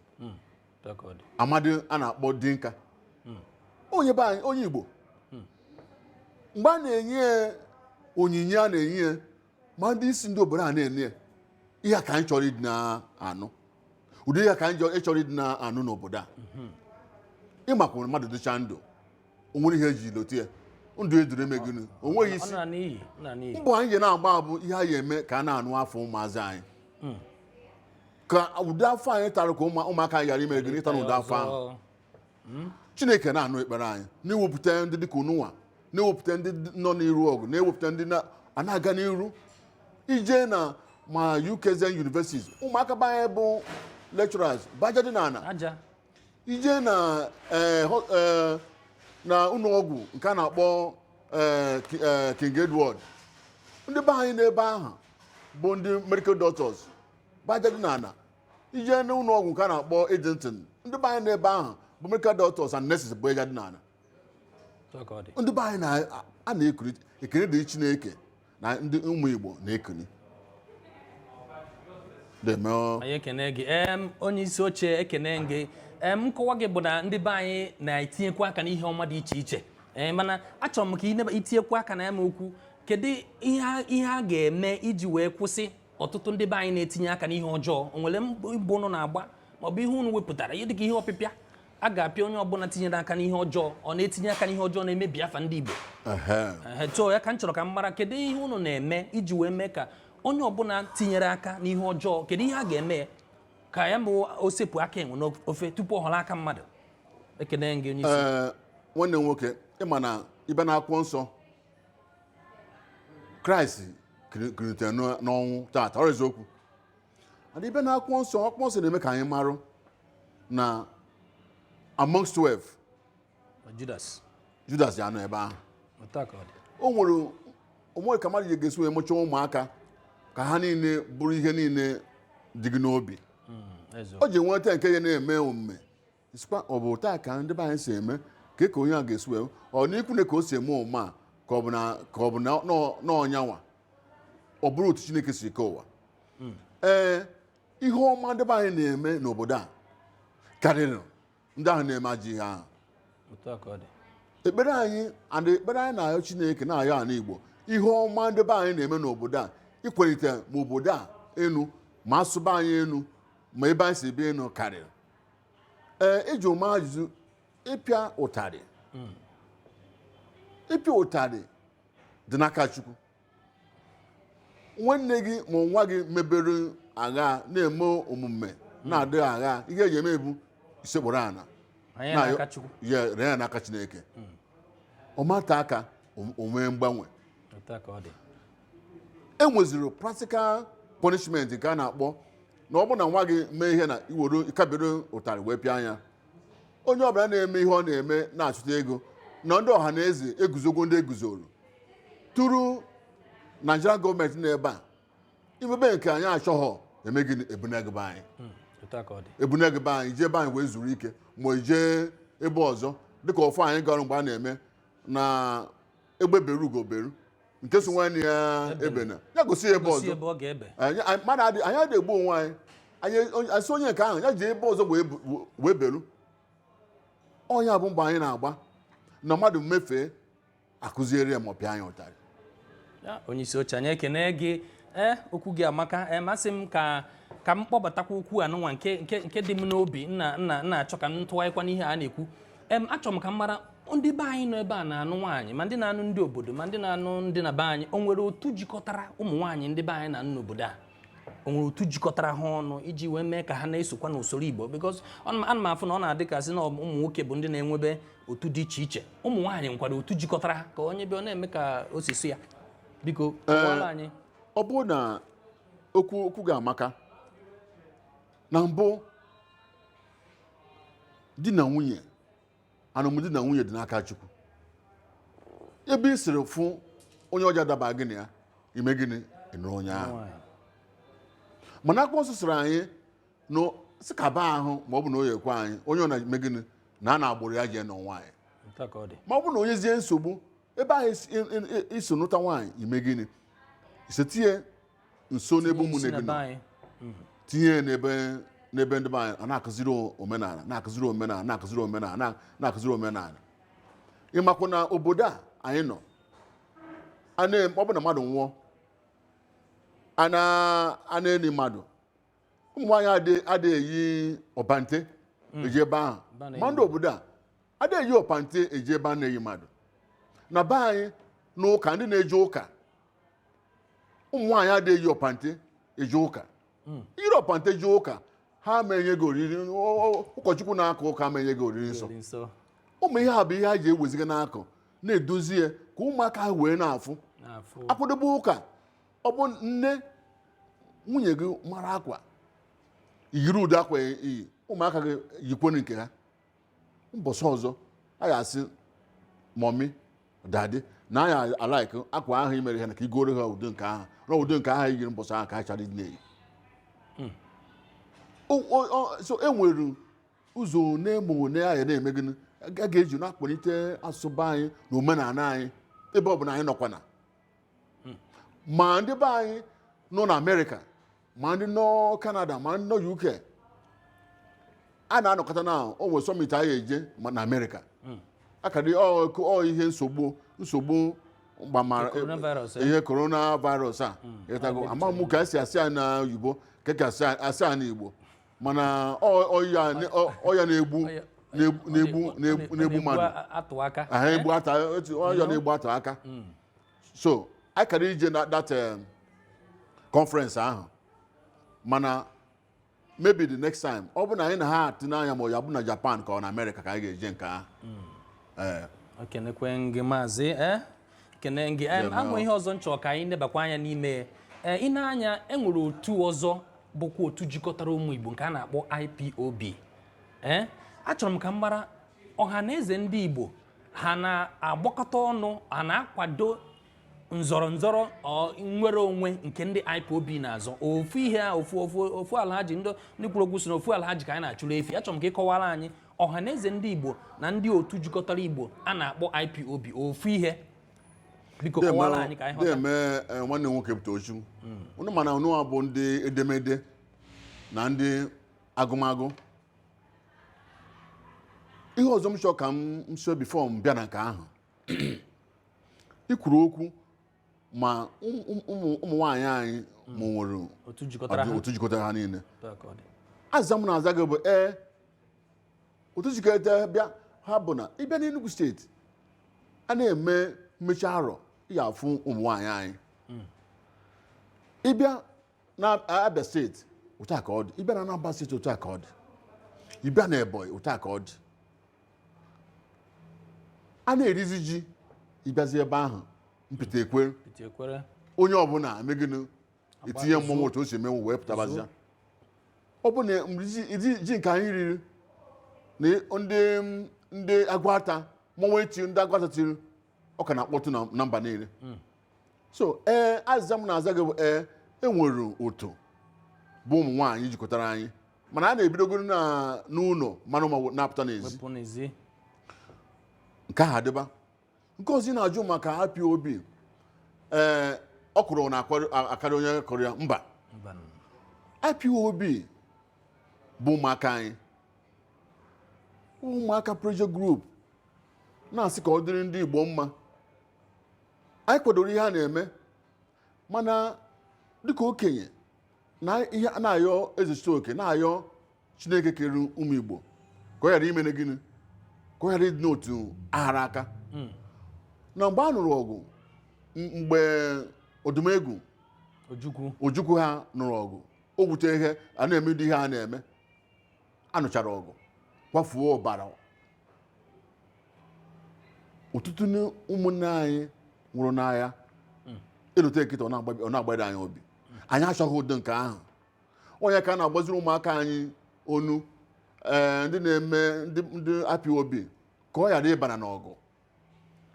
amadi a na-akpọ Dinka hmm. onye be anyị onye Igbo hmm. mgbe a na-enye ya onyinye a na-enye ya ma ndị isi ndị obodo a na-enye ya ihe a ka anyị chọrọ ịdị na-anụ ụdị ihe a ka anyị chọrọ ịdị na-anụ n'obodo a hmm. ị makwa mmadụ dịcha ndụ o nwere ihe eji lote ya ndụ eduru eme gịnị o nweghị isi mbọ anyị ji na-agba bụ ihe anyị eme ka a na-anụ afa ụmụazị anyị ka ụdị afụfụ anyị tara ka ụmụ- ụmụaka anyị ghara ime gịnị ịta na ụdị afụfụ ahụ Ọzọ. chineke na-anụ ekpere anyị na-ewepụta ndị dịka ununwa na-ewepụta ndị dị- nọ n'iru ọgụ na-ewepụta ndị na- a na-aga n'iru ije na ma UKZN universities ụmụaka be anyị bụ lecturers bụ aja dị n'ala aja i jee na eh, ho- eh, na ụlọọgwụ nke a na-akpọ eh, Ki- eh, King Edward ndị be anyị n'ebe ahụ bụ ndị medical doctors bụ aja dị n'ala i jee n'ụlọ ọgwụ nke a na-akpọ Addington ndị be anyị n'ebe ahụ bụ medical doctors and nurses bụ aja dị n'ala Otu ka ọ dị. ndị be anyị na- a na-ekiri ekele dịrị Chineke na ndị ụmụ Igbo na-ekiri na-eme ọ- anyị ekene gị em onye isi oche ekene gị em nkọwa gị bụ na ndị be anyị na-etinyekwu aka n'ihe ọma dị iche iche ee mana achọrọ m ka ị neba- i tinyekwu aka na ya bụ okwu kedu ihe a- ihe a ga-eme iji wee kwụsị ọtụtụ ndị be anyị na-etinye aka n'ihe ọjọọ o nwere mbọ ụnụ na-agba maọbụ ihe ụnụ wepụtara ihe dịka ihe ọpịpịa a ga-apịa onye ọbụla tinyere aka n'ihe ọjọọ ọ na-etinye aka n'ihe ọjọọ na-emebi afa ndị Igbo so ọ ya ka m chọrọ ka m mara kedu ihe ụnụ na-eme iji wee mee ka onye ọbụla tinyere aka n'ihe ọjọọ kedu ihe a ga-eme ka ya bụ o sepụ aka enwe n'ofe tupu ọ ghọrọ aka mmadụ ekene gị onye isi nwanne m nwoke ị ma na even na akwụkwọ nsọ kraịst kulitere n'ọnwụ tata ọ bụ eziokwu and even na akwụkwọ nsọ akwụkwọ nsọ na-eme ka anyị marụ na amongst 12 judas judas ya-anọ ebe ahụ o nwero o nwero ka mmadụ ga-esi wee mụchaa ụmụaka ka ha niile bụrụ ihe niile dị gị n'obi hmm, o ji nweta nke ya na-eme omume sịkwa ọ bụ otu a ka ndị be anyị si eme ka ka onye a ga-esi wee ọ n'ikwunne ka o si eme omume a ka ọ bụ na ka ọ bụ na nọ- n'ọnyanwa ọ bụrụ otu chineke si kee ụwa ee ihe ọma ndị be anyị na-eme n'obodo a karịrị ndị ahụ na-eme ajọ ihe ahụ otu a ka ọ dị ekpere anyị and ekpere anyị na-ayọ chineke na-ayọ ala igbo ihe ọma ndị be anyị na-eme n'obodo a ịkwalite ma obodo a enu ma asụsụ be anyị enu ma ebe anyị si bịa enu karịrị ee ị jụ m ajụjụ ịpịa ụtarị ịpịa ụtarị dị n'aka chukwu nwanne gị ma nwa gị mebere agha na-eme omume na-adịghị agha ihe ị ga-eme bụ isekpuru ana Anyị Na- n'aka Chukwu. ya ree ya n'aka chineke o metụ aka o- o nwee mgbanwe Otu a ka ọ dị. e nweziro practical punishment nke a na-akpọ na ọ bụrụ na nwa gị mee ihe na i nwere ike bere ụtarị wee pịa nya onye ọbụla na-eme ihe ọ na-eme na-achụta ego na ndị ọha na eze eguzogo ndị eguzoro through Nigerian government n'ebe a i mebe nke anyị achọghọ eme gịnị e bune gị be anyị otu a ka ọ dị e bune gị be anyị jee be anyị wee zuru ike ma i jee ebe ọzọ dịka ofu anyị gara mgbe a na-eme na egbe beru ugo beru nke si nwanne ya ebena ya gosi ya ebe gosi ọzọ ebe ọ ga-ebe anyị anyị- mmadụ adị anyị adịghị egbu onwe anyị anyị onye- a sị onye nke ahụ ya jee ebe ọzọ wee bu- wee beru ọ nya bụ mbọ anyị na-agba na mmadụ mefee a kụziere ya ma ọ pịa nya ụtarị Ya, onye isi oche anyị ekene gị ee okwu gị amaka ee masị m ka ka m kpọbatakwa okwu anụnwa nke nke nke dị m n'obi na na na achọ ka m tụgharịkwa n'ihe a na-ekwu em achọrọ m ka m mara ndị be anyị nọ ebe a na-anụ nwaanyị ma ndị na-anụ ndị obodo ma ndị na-anụ ndị na be anyị o nwere otu jikọtara ụmụ nwaanyị ndị be anyị na-anụ n'obodo a o nwere otu jikọtara ha ọnụ iji wee mee ka ha na-esokwa n'usoro Igbo because ana m afụ na ọ na-adị ka sị na ụmụ nwoke bụ ndị na-enwebe otu dị iche iche ụmụ nwaanyị nwekwara otu jikọtara ha ka onye bịa ọ na-eme ka o si sị ya biko kọwara anyị ọ bụrụ na okwu okwu gị amaka na mbụ di na nwunye alụmdi na nwunye dị n'aka chukwu ebe ị sịrị fụ onye ọ ja-adaba gị na ya i mee gịnị ị nụrụ onye ahụ Nwaanyị. mana akwụkwọ nsọ sịrị anyị na sị kaba ahụ ma ọ bụ na o yekwa anyị onye ọ na-eme gịnị naa n'agbụrụ ya jee nụọ nwaanyị Nke a ka ọ dị. ma ọ bụ na o nwezie nsogbu ebe ahụ isi- i- i- i- isi nụta nwaanyị i mee gịnị ise tinye nso n'ebe ụmụnne gị nọ tinye ya n'ebe n'ebe ndị be anyị a na-akụziri o- omenala na-akụziri omenala na-akụziri omenala na- na-akụziri omenala ị makwa na obodo a anyị nọ a na- ọ bụ na mmadụ nwụọ a na- a na-eni mmadụ ụmụ nwaanyị adị- adịghị eyi ọpante eje ebe ahụ Ba na-eyi ma ndị obodo a adịghị eyi ọpante eje ebe a na-eni mmadụ na be anyị n'ụka ndị na-eje ụka ụmụ nwaanyị adịghị eyi ọpante eje ụka i yiri ọpante jee ụka ha ma enye gị oriri ọ- ọ- ụkọchukwu na-aka ụka ma enye gị oriri nsọ Dị nsọ ụmụ ihe a bụ ihe a ji eweziga n'akụ na-edozi ya ka ụmụaka ha wee na-afụ na-afụ akwadobe ụka ọ bụ nne nwunye gị mara akwa yiri ụdị akwa i yi ụmụaka gị yikwanụ nke ha mbọsị ọzọ a ga-asị mummy daddy na anyị a like akwa ahụ i mere ha na ka i goro ha ụdị nke ahụ na ụdị nke ahụ yiri mbọsị ahụ ka ha chọrọ ịdị na-eyi hmm. so e nwere ụzọ one ma one ahụ na-eme gịnị a ga-eji na-akwanite asụsụ be anyị na omenala anyị ebe ọ bụla anyị nọkwana ma ndị be anyị nọ na amerịka ma ndị nọ kanada ma ndị nọ uk a na-anọkọta na o nwere summit anyị eje na amerịka akadị ọ ihe nsogbu nsogbu gbasara ihe coronavirus a ịtago ama m ka esi asị ya na oyibo ka ka asị ya- asị ya na igbo mana ọya na-egbu mmadụ ọya na-egbu atụ aka so anyị kara ije na that um, conference ahụ mana maybe the next time ọ bụ na anyị na ha atụ n'anya ma ọ ya-abụ na japan ka ọ na amerịka ka anyị ga-eje nke ahụ Ee, ekenekwe m gị maazị eh? ekene m gị em, Yeah, ahụ no. ihe ọzọ m chọ ka anyị nebakwa anya n'ime ya. Eh, ị nee anya enwere otu ọzọ bụkwa otu jikọtara ụmụ igbo nke a na-akpọ ipob Eh, achọrọ m ka m mara ọha na eze ndị igbo ha na-agbakọta ọnụ a na-akwado nzọrọ nzọrọ ọ, nnwere onwe nke ndị ipob na-azọ ofu ihe a ofu ofu ofu alhaji ndị ndị kwuru okwu sị na ofu alhaji ka anyị na-achụrụ efi achọrọ m ka ị kọwaara anyị ọha na eze ndị igbo na ndị otu jikọtara igbo a na-akpọ ipob ofu ihe biko kọwaara anyị ka anyị ghọta na-eme eh, nwanne m nwoke bụ Tochukwu unu ma na unuwa bụ ndị edemede na ndị agụmagụ ihe ọzọ m chọọ ka m nso before m bịa na nke ahụ i kwuru okwu ma ụmụ nwaanyị anyị ma enwere otu jikọtara ha niile aza m na-aza gị bụ ee otu jikọta bịa ha bụ na ị bịa n'Enugu steeti a na-eme mmechi arọ ị ya-afụ ụmụ nwaanyị anyị ị bịa na abịa steeti otu a ka ọ dị ị bịa na anambra steeti otu a ka ọ dị ị bịa na ebonyi otu a ka ọ dị a na-erizi ji ị bịazi ebe ahụ mpịta ekwere onye ọbụla mee gịnị etiye mmọnwụ otu o si emenwu wee pụtabazia ọ bụ na ji- ji- ji nke anyị riri na ndị ndị aguata mmọnwụ echi ndị aguata tiri ọ ka na-akpọtụ na- na mba niile so ee azịza m na-aza gị bụ ee enwere otu bụ ụmụ nwaanyị jikọtara anyị mana a na-ebidogoro na- n'ụlọ maa mma na-apụta n'ezi wee pụọ n'ezi nke ahụ adịba nke ọzọ ị na-ajụ maka IPOB ee ọkwụrụ ọ na-akarị onye kụrụ ya mba Mba nụ. IPOB bụ ụmụaka anyị ụmụaka pressure group na-asị ka ọ dịrị ndị Igbo mma anyị kwadoro ihe a na-eme mana dịka okenye na ihe a na-ayọ ezechitoke na-ayọ chineke kere ụmụ igbo ka ọ ghara imene gịnị ka ọ ghara ịdị n'otu aghara aka na mgbe a nụrụ ọgụ m- mgbe odumegwu ojukwu ojukwu ha nụrụ ọgụ o wute ihe a na-eme ụdị ihe a na-eme a nụchara ọgụ kwafuo ọbara ọtụtụ ụmụnne anyị nwụrụ n'agha e lote kịta ọ na-agbado anyị obi anyị achọghị ụdị nke ahụ ọ nya ka a na-agbaziri ụmụaka anyị ọnụ ee ndị na-eme ndị IPOB ka ọ ghara ịbara n'ọgụ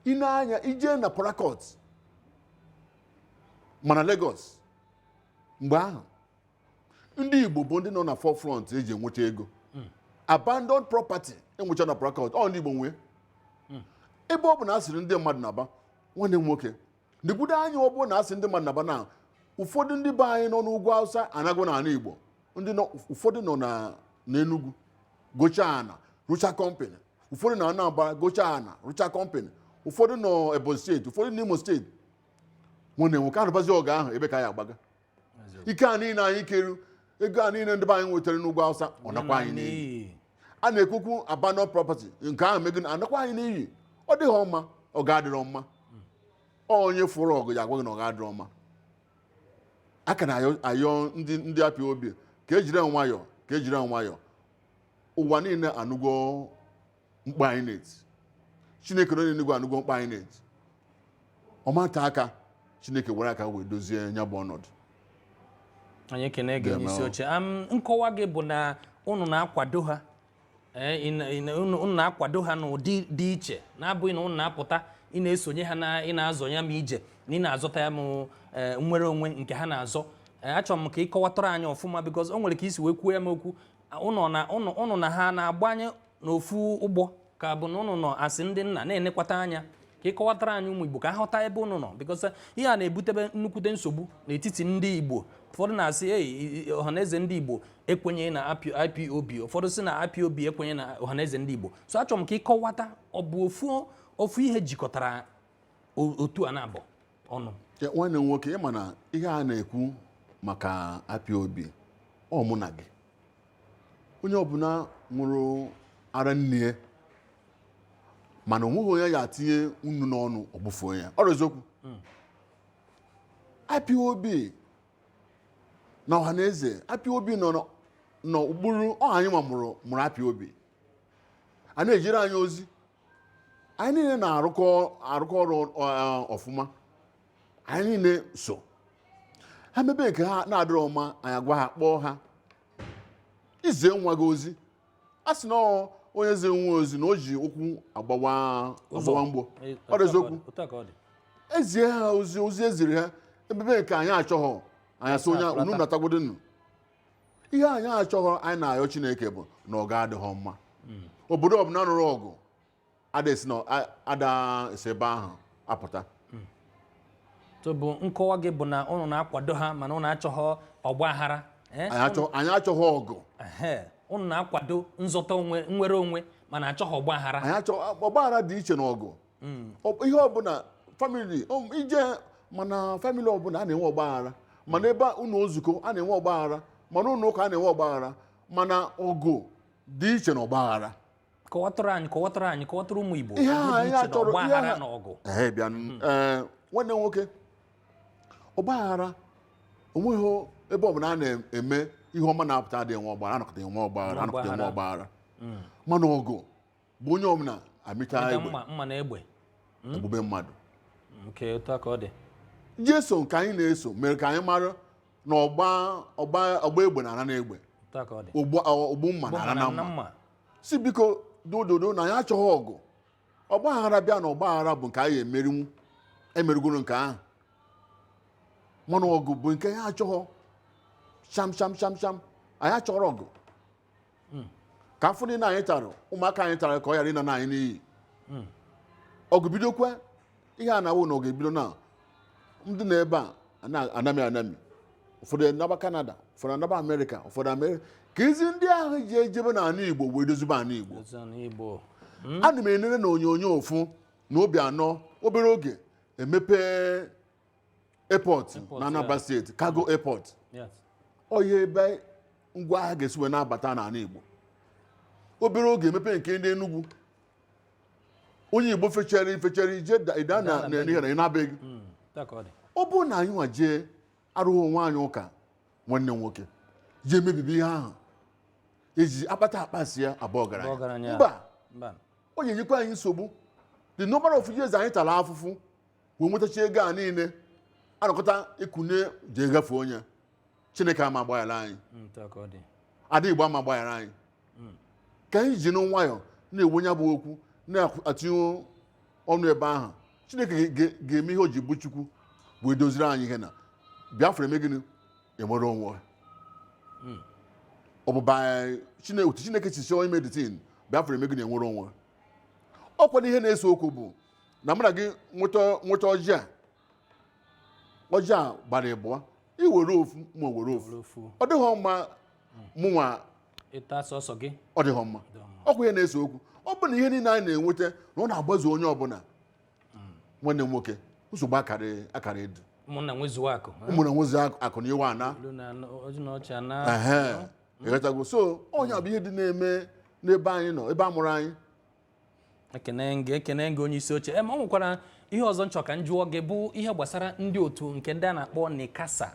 i nee anya i jee na Port Harcourt ma na Lagos mgbe ahụ ndị igbo bụ ndị nọ na forefront eji enwecha ego abandoned property e nwecha na Port Harcourt ọ ndị igbo nwee ebe ọ bụ na a sịrị ndị mmadụ naba nwanne m nwoke nekwudo anya ọ bụrụ na a sị ndị mmadụ naba na ụfọdụ ndị be anyị nọ n'ugwu awụsa anago n'ala igbo ndị nọ ụfọdụ nọ na n'enugwu gochaa ana rụcha kọmpanị ụfọdụ na anambra gochaa ana rụcha kọmpanị ụfọdụ nọ ebonyi steeti ụfọdụ n'imo steeti nwanne m nwoke a nụbazie ọgụ ahụ ebee ka a ya-agbaga ike a niile anyị keru ego a niile ndị be anyị nwetara n'ugwu awụsa ọ nakwa anyị n'iyi a na-ekwukwu abandoned property nke ahụ mee gịnị anakwa anyị n'iyi ọ dịghị mma ọgụ adịrọ mma onye fụrụ ọgụ ya-agwa gị na ọgụ adịrọ mma a ka na-ayọ ndị ndị IPOB ka e jiri nwayọọ ka e jiri nwayọọ ụwa niile anụgo mkpu anyị na-eti chineke nọ n'enigwe anụgwo mkpu anyị na-eti ọ ma te aka chineke were aka wee dozie ya bụ ọnọdụ anyị ekene gị Deme onyeisi oche Am, nkọwa gị bụ na unu na-akwado ha Eh, ị na- ị na- unu unu na-akwado ha n'ụdị dị iche na-abụghị na unu na-apụta ị na-esonye ha na ị na-azọ ya ma ije na ị na-azọta ya ma eh, nnwere onwe nke ha na-azọ Eh, achọrọ m ka ị kọwatara anyị ọfụma because o nwere ka i si wee kwuo ya m okwu ụnụ na ụnụ ụnụ na ha na-agbanye n'ofu ụgbọ ka ọ bụ na ụnụ nọ as ndị nna na-enekwata anya ka ị kọwatara anyị ụmụ igbo ka ha ghọta ebe ụnụ nọ because ihe a na-ebutebe nnukwute nsogbu n'etiti ndị igbo ụfọdụ na-asị ei ọhaneze ndị igbo ekwenye na ipob ụfọdụ sị na ipob ekwenye na ọhaneze ndị igbo so achọrọ m ka ị kọwata ọ bụ ofu ofu ihe jikọtara otu a naabọ ọnụ Ya, nwanne m nwoke ị ma na ihe a na-ekwu maka IPOB ọ mụ na gị onye ọbụla ṅụrụ ara nne ya ma na o nweghị onye a ya-etinye nnu n'ọnụ ọ gbụfuo ya ọ eziokwu IPOB na ọhaneze IPOB nọ na- n'okpuru ọha anyịwa mụrụ mụrụ IPOB ha na-ejere anyị ozi anyị niile na-arụkọ ọrụ ọfụma anyị niile so ha mebe nke ha na-adịrọ ọma anyị agwa ha kpọọ ha i zie nwa gị ozi a sị na onye zi nwa ozi na o ji ụkwụ agbawa mgbo ọ dị eziokwu ezie ha ozi ozi eziri ha emebe nke anyị achọghọ anyị asị onye unu natagwodonu ihe anyị achọghọ anyị na-ayọ chineke bụ na ọgụ adịghị mma obodo ọbụla nụrụ ọgụ ada esi na a- ada esi ebe ahụ apụta so ọ bụ nkọwa gị bụ na ụnụ na-akwado ha mana ụnụ achọghọ ọgba aghara eh? anyị achọ- anyị achọghị ọgụ Ehe, ụnụ na-akwado nzọta onwe nnwere onwe mana achọghị ọgba aghara anyị achọ ọgbaghara dị iche na ọgụ Ọ- ihe ọbụla famili o- i je ma na famili ọbụla a na-enwe ọgbaghara ma na ebe ụnọ nzukọ a na-enwe ọgbaghara ma na ụnọ ụka a na-enwe ọgbaghara mana ọgụ dị iche na ọgbaghara kọwatụrụ anyị kọwatụrụ anyị kọwatụrụ ụmụ igbo ihe ọgụ a dị ihe iche a na chọrọ ihe ọgbaghara a- na ọgụ Ee, bịa n- ee, nwanne m nwoke ọgbaghara onweghị ebe ọbụla a na-eme ihe ọma na-apụta adịghị enwe ọgbaghara anọkọta enwe ọgbaghara mana ọgụ bụ onye ọbụla amịta egbe mma na egbe egbube mmadụ nke otu a ka ọ dị jeso nke anyị na-eso mere ka anyị mara na ọgba egbe na-ana na egbe otu a ka ọ dị ogbu mma na-ana na mma sị biko dododo na anyị achọghị ọgụ ọgba aghara bịa na ọgba aghara bụ nke anyị emerinwu emerigoro nke ahụ mana ọgụ bụ nke anyị achọghọ sham sham sham sham anyị achọrọ ọgụ hmm. ka afụfụ niile anyị tara ụmụaka anyị tara ka ọ ghara ịna na anyị n'iyi hmm. ọgụ bidokwa ihe a na-awụ na ọ ga-ebido na ndị nọ ebe a anami anami ụfọdụ anaba kanada ụfọdụ anaba amerịka ụfọdụ amerịka ka ezi ndị ahụ ji ejebe na anị igbo wee dozibe anị igbo hmm? ana m enere na onyonyo afụ na Obiano obere oge emepe airport Airport, na Anambra yeah. steeti cargo airport Yes. ọ ya ebe ngwa ahịa ga-esi wee na-abata n'anị Igbo obere oge emepe nke ndị Enugu onye Igbo fechara ifechara ije da- ịda na Ịda na n'ihe na ị naa be gị Mm, otu a ka ọ dị. ọ bụrụ na anyị nwa jee arụghị onwe anyị ụka nwanne m nwoke jee mebibi ihe ahụ eji akpata akpasịa abụ ọgaranya. mba Mba. ọ ga-enyekwa anyị nsogbu the number of years anyị tara afụfụ wee nwetacha ego a niile anọkọta ịkụnye ji egafe onye chineke ama agbaghara anyị ada igbo ama agbaghara anyị hmm. ka anyị jinụ nwayọ na-ekwu nya bụ okwu na-atinye ọnụ ebe ahụ chineke ga-eme ihe o ji bụ chukwu wee doziri anyị ihe na biafra eme gịnị enwere onwe hmm. ọ bụba otu chineke si chọọ ime the thing biafra eme gịnị enwere onwe ọkwa ihe na-ese okwu bụ na mụ na gị nweta nweta ọjị a ọjị a gbara ịbụọ i were ofu mụ ewere ofu Were ofu. ọ dịghị mma mụnwa ịta sọsọ gị ọ dịghị mma ọkwa ihe na-ese okwu ọ bụ na ihe niile anyị na-enweta na ọ na-agbazu onye ọbụla nwanne m nwoke nsogbu akara akara adị ụmụnna nwezuo akụ ha. ụmụnna nwezuo akụ- akụ na iwe ana Olu na anụ- oji na ọchị ana Ehe, ịghọtago so ọ nya bụ ihe dị na-eme n'ebe anyị nọ ebe a mụrụ anyị ekene gị ekene gị onye isi oche e ma ọ nwekwara ihe ọzọ m chọ ka m jụọ gị bụ ihe gbasara ndị otu nke ndị a na-akpọ NICASA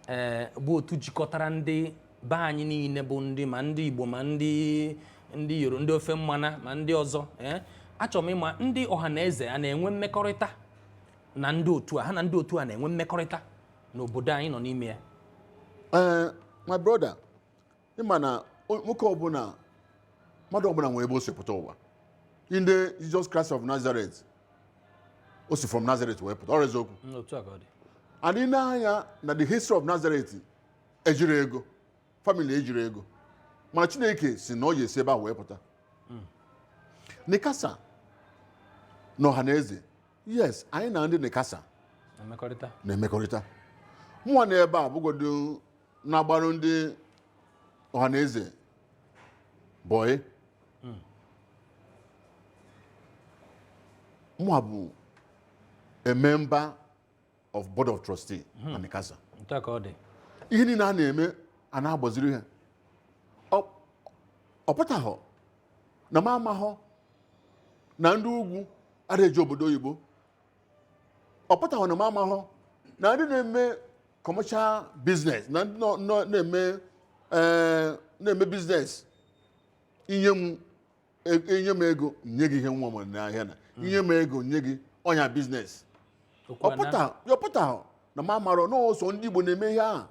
ee bụ otu jikọtara ndị be anyị niile bụ ndị ma ndị igbo ma ndị ndị yoro ndị ofe mmanụ ma ndị ọzọ ee achọrọ m ịma ndị ọhaneze a na-enwe mmekọrịta na ndị otu a ha na ndị otu a na-enwe mmekọrịta n'obodo anyị nọ n'ime ya Eh, my brother ịma na o- nwoke ọbụla mmadụ ọbụla nwere ebe o si pụta ụwa ndị Jesus Christ of Nazareth o si from Nazareth wee pụta ọ bụrọ eziokwu Mm, otu a ka ọ dị and i nee anya na the history of Nazareth ejirọ ego family ejirọ ego mana chineke sị na ọ ya-esi ebe a wee pụta NICASA na ọhaneze yes anyị na ndị NICASA na mmekọrịta na-emekọrịta mụnwa nọ ebe a bụgodo na-agbara ndị ọhaneze boy mụa bụ a member of board of trustee na NICASA Otu a ka ọ dị. ihe niile a na-eme a na-agbaziri ha Ọ- ọ pụtaghọ na m amaghọ na ndị ugwu adịghị eje obodo oyibo ọ pụtaghị na m amarọ na ndị na-eme commercial business na ndị nọ- nọ- na-eme eh, na-eme business i nye m e- i nye m ego nye gị ihe m nwe n'ahịa na i nye m ego nye gị ọ nya business Okwu a na- ọ pụta ọ pụtahọ na m amarọ na ọ sọ ndị Igbo na-eme ihe ahụ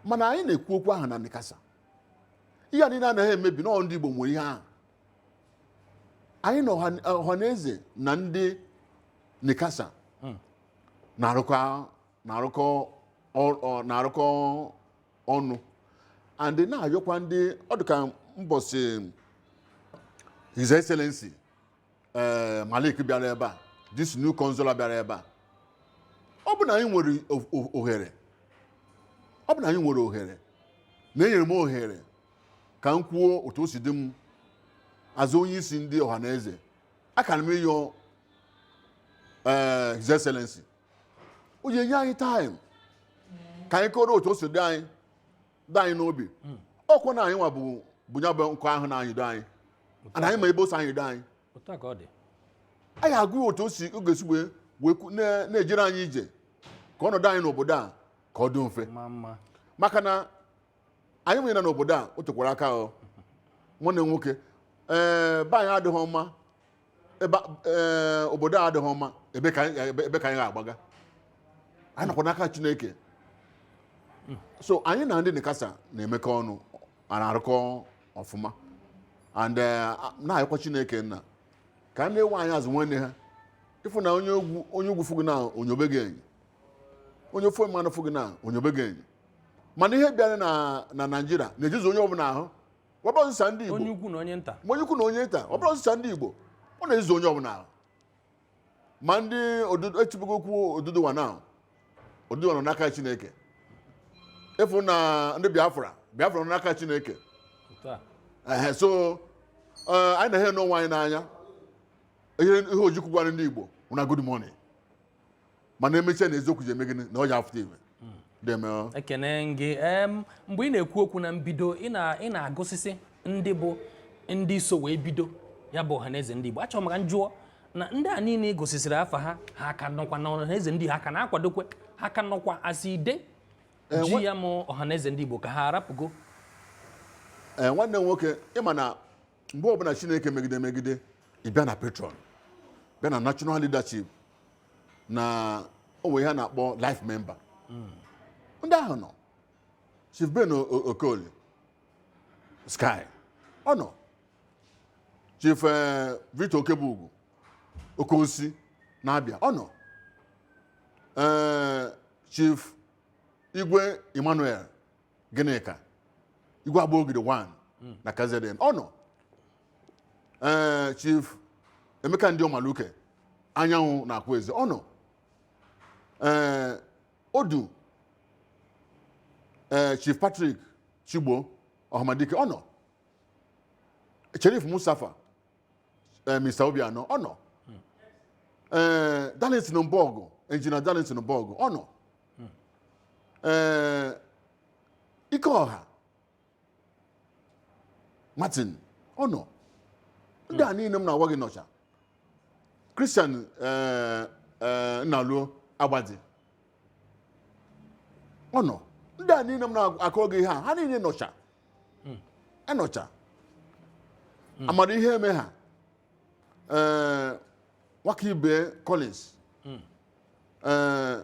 mana anyị na-ekwu okwu ahụ na NICASA ihe a niile a na ha emebi na ọ ndị Igbo nwe ihe ahụ anyị na ọha- ọhaneze na ndị NICASA na-arụkọ na-arụkọ ọ- ọ- na-arụkọ ọnụ and na-ayọkwa ndị ọ dị ka mbọsị his excellency eh, Malik bịara ebe a this new consular bịara ebe a ọ bụ na anyị nwere o- o- ohere ọ bụ na anyị nwere ohere na enyere m ohere ka m kwuo otu o si dị m as onye isi ndị ọha na eze aka na m ịyọ ee his excellency o ji enye anyị time ka anyị kọọrọ otu o si dị anyị dị anyị n'obi ọkwa na anyị nwa bu bu ya bụ nkụ ahụ na-anyịdo anyị na anyị ma ebe o si anyịdo anyị otu a ka ọ dị anyị agwa ya otu o si ọ ga-esi wee wee kwu- na- na-ejere anyị ije ka ọnọdụ anyị n'obodo a ka ọ dị mfe ma mma maka na anyị nwere n'obodo a o tekwara aka ahụ nwanne nwoke ee be anyị adịghị mma ebe ee obodo a adịghị mma ebe ka anyị ebe ebe ka anyị ga-agbaga anyị nọkwa n'aka chineke so anyị na ndị NICASA na-emekọ ọnụ a na-arụkọ ọfụma and eh, na-ayọkwa chineke nna ka ha na-ewe anyị as nwanne ha ị fụ na onye ugwu onye ugwu fụ gị na o nyobe gị enyo onye ofe mmanụ fụ gị na o nyobe gị enyo mana ihe bịara na na Nigeria na-ejizi onye ọbụla ahụ ọ bụghị sọsọ ndị igbo onye ukwu na onye nta ma onye ukwu na onye nta ọ bụghị sọsọ ndị igbo ọ na-ejizi onye ọbụla ahụ ma ndị odudu etibego okwu Oduduwa na Oduduwa nọ n'aka chineke ị fụ na ndị biafra biafra nọ n'aka chineke otu a ehe so eh, anyị na-ahụ onwe anyị n'anya ihe ihe ojukwu gwara ndị igbo na good morning mana emechaa na eziokwu ji eme gịnị na ọ ya afụta ihe deeme o. ekene m gị em mgbe ị na-ekwu okwu na mbido ị na- ị na-agụsịsị ndị bụ ndị so wee bido ya bụ ọhaneze ndị Igbo achọrọ m ka m jụọ na ndị a niile ị gụsịsịrị afa ha ha ka nọkwa na ọhaneze ndị ha ka na-akwadokwa ha ka nọkwa as ide ji ya bụ ọhaneze ndị Igbo ka ha arapụgo ee nwanne m nwoke ị ma na mgbe ọbụla chineke megide megide ị bịa na patron bịa na national leadership na o nwe ihe a na-akpọ life member ndị ahụ nọ chief ben O- O- okoli sky ọ nọ chief eh, victor okebugwu Okosi na Abia ọ nọ Eh, chief igwe emmanuel gịnịka igwe agbogidi 1 na kzn ọ nọ ee chief emeka ndị ọmaluke anyanwụ na akwaeze ọ nọ ee odu ee chief patrick chigbo ọhamadike ọ nọ cherif mustapha eh, Mr. Obianọ ọ nọ eh, Darlington Mbọgụ Engineer Darlington Mbọgụ ọ nọ eh, Ikeọha Martin ọ nọ ndị a niile m na-agwa gị nọcha Christian eh, eh, Nnaluo Agbadi ọ nọ ndị a niile m na-akọ gị ihe a ha niile nọcha hmm. anọcha hmm. amara ihe eme ha eh, Nwakaibe Collins hmm. eh,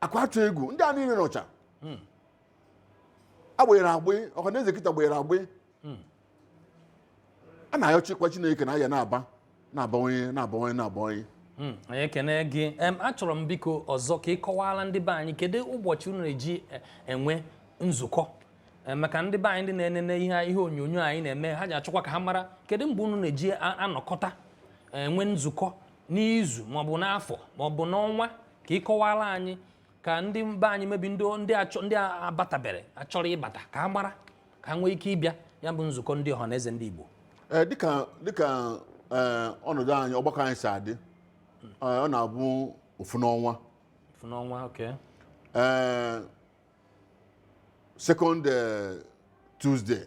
akwatu egwu ndị a niile nọcha agbanyere agbị ọhaneze kịta gbanyere agbị a na-ayọchikwa chineke na a ya na-aba na-abawanye na-abawanye na-abawanye Hmm, anyị ekene gị Em, achọrọ m biko ọzọ ka ị kọwaara ndị be anyị kedu ụbọchị unu na-eji e- enwe nzukọ Em, maka ndị be anyị ndị na-enene ihe ihe onyonyo anyị na-eme ha ji achọkwa ka ha mara kedu mgbe unu na-eji a- anọkọta enwe nzukọ n'izu maọbụ n'afọ maọbụ n'ọnwa ka ị kọwara anyị ka ndị be anyị maybe ndị ndị achọ ndị a- abatabere achọrọ ịbata ka ha mara ka ha nwee ike ịbịa ya bụ nzukọ ndị ọhaneze ndị Igbo Ee, dịka dịka ee, ọnọdụ anyị ọgbakọ anyị si adị ee, ọ na-abụ ofu n'ọnwa Ofu n'ọnwa okay ee second ee, Tuesday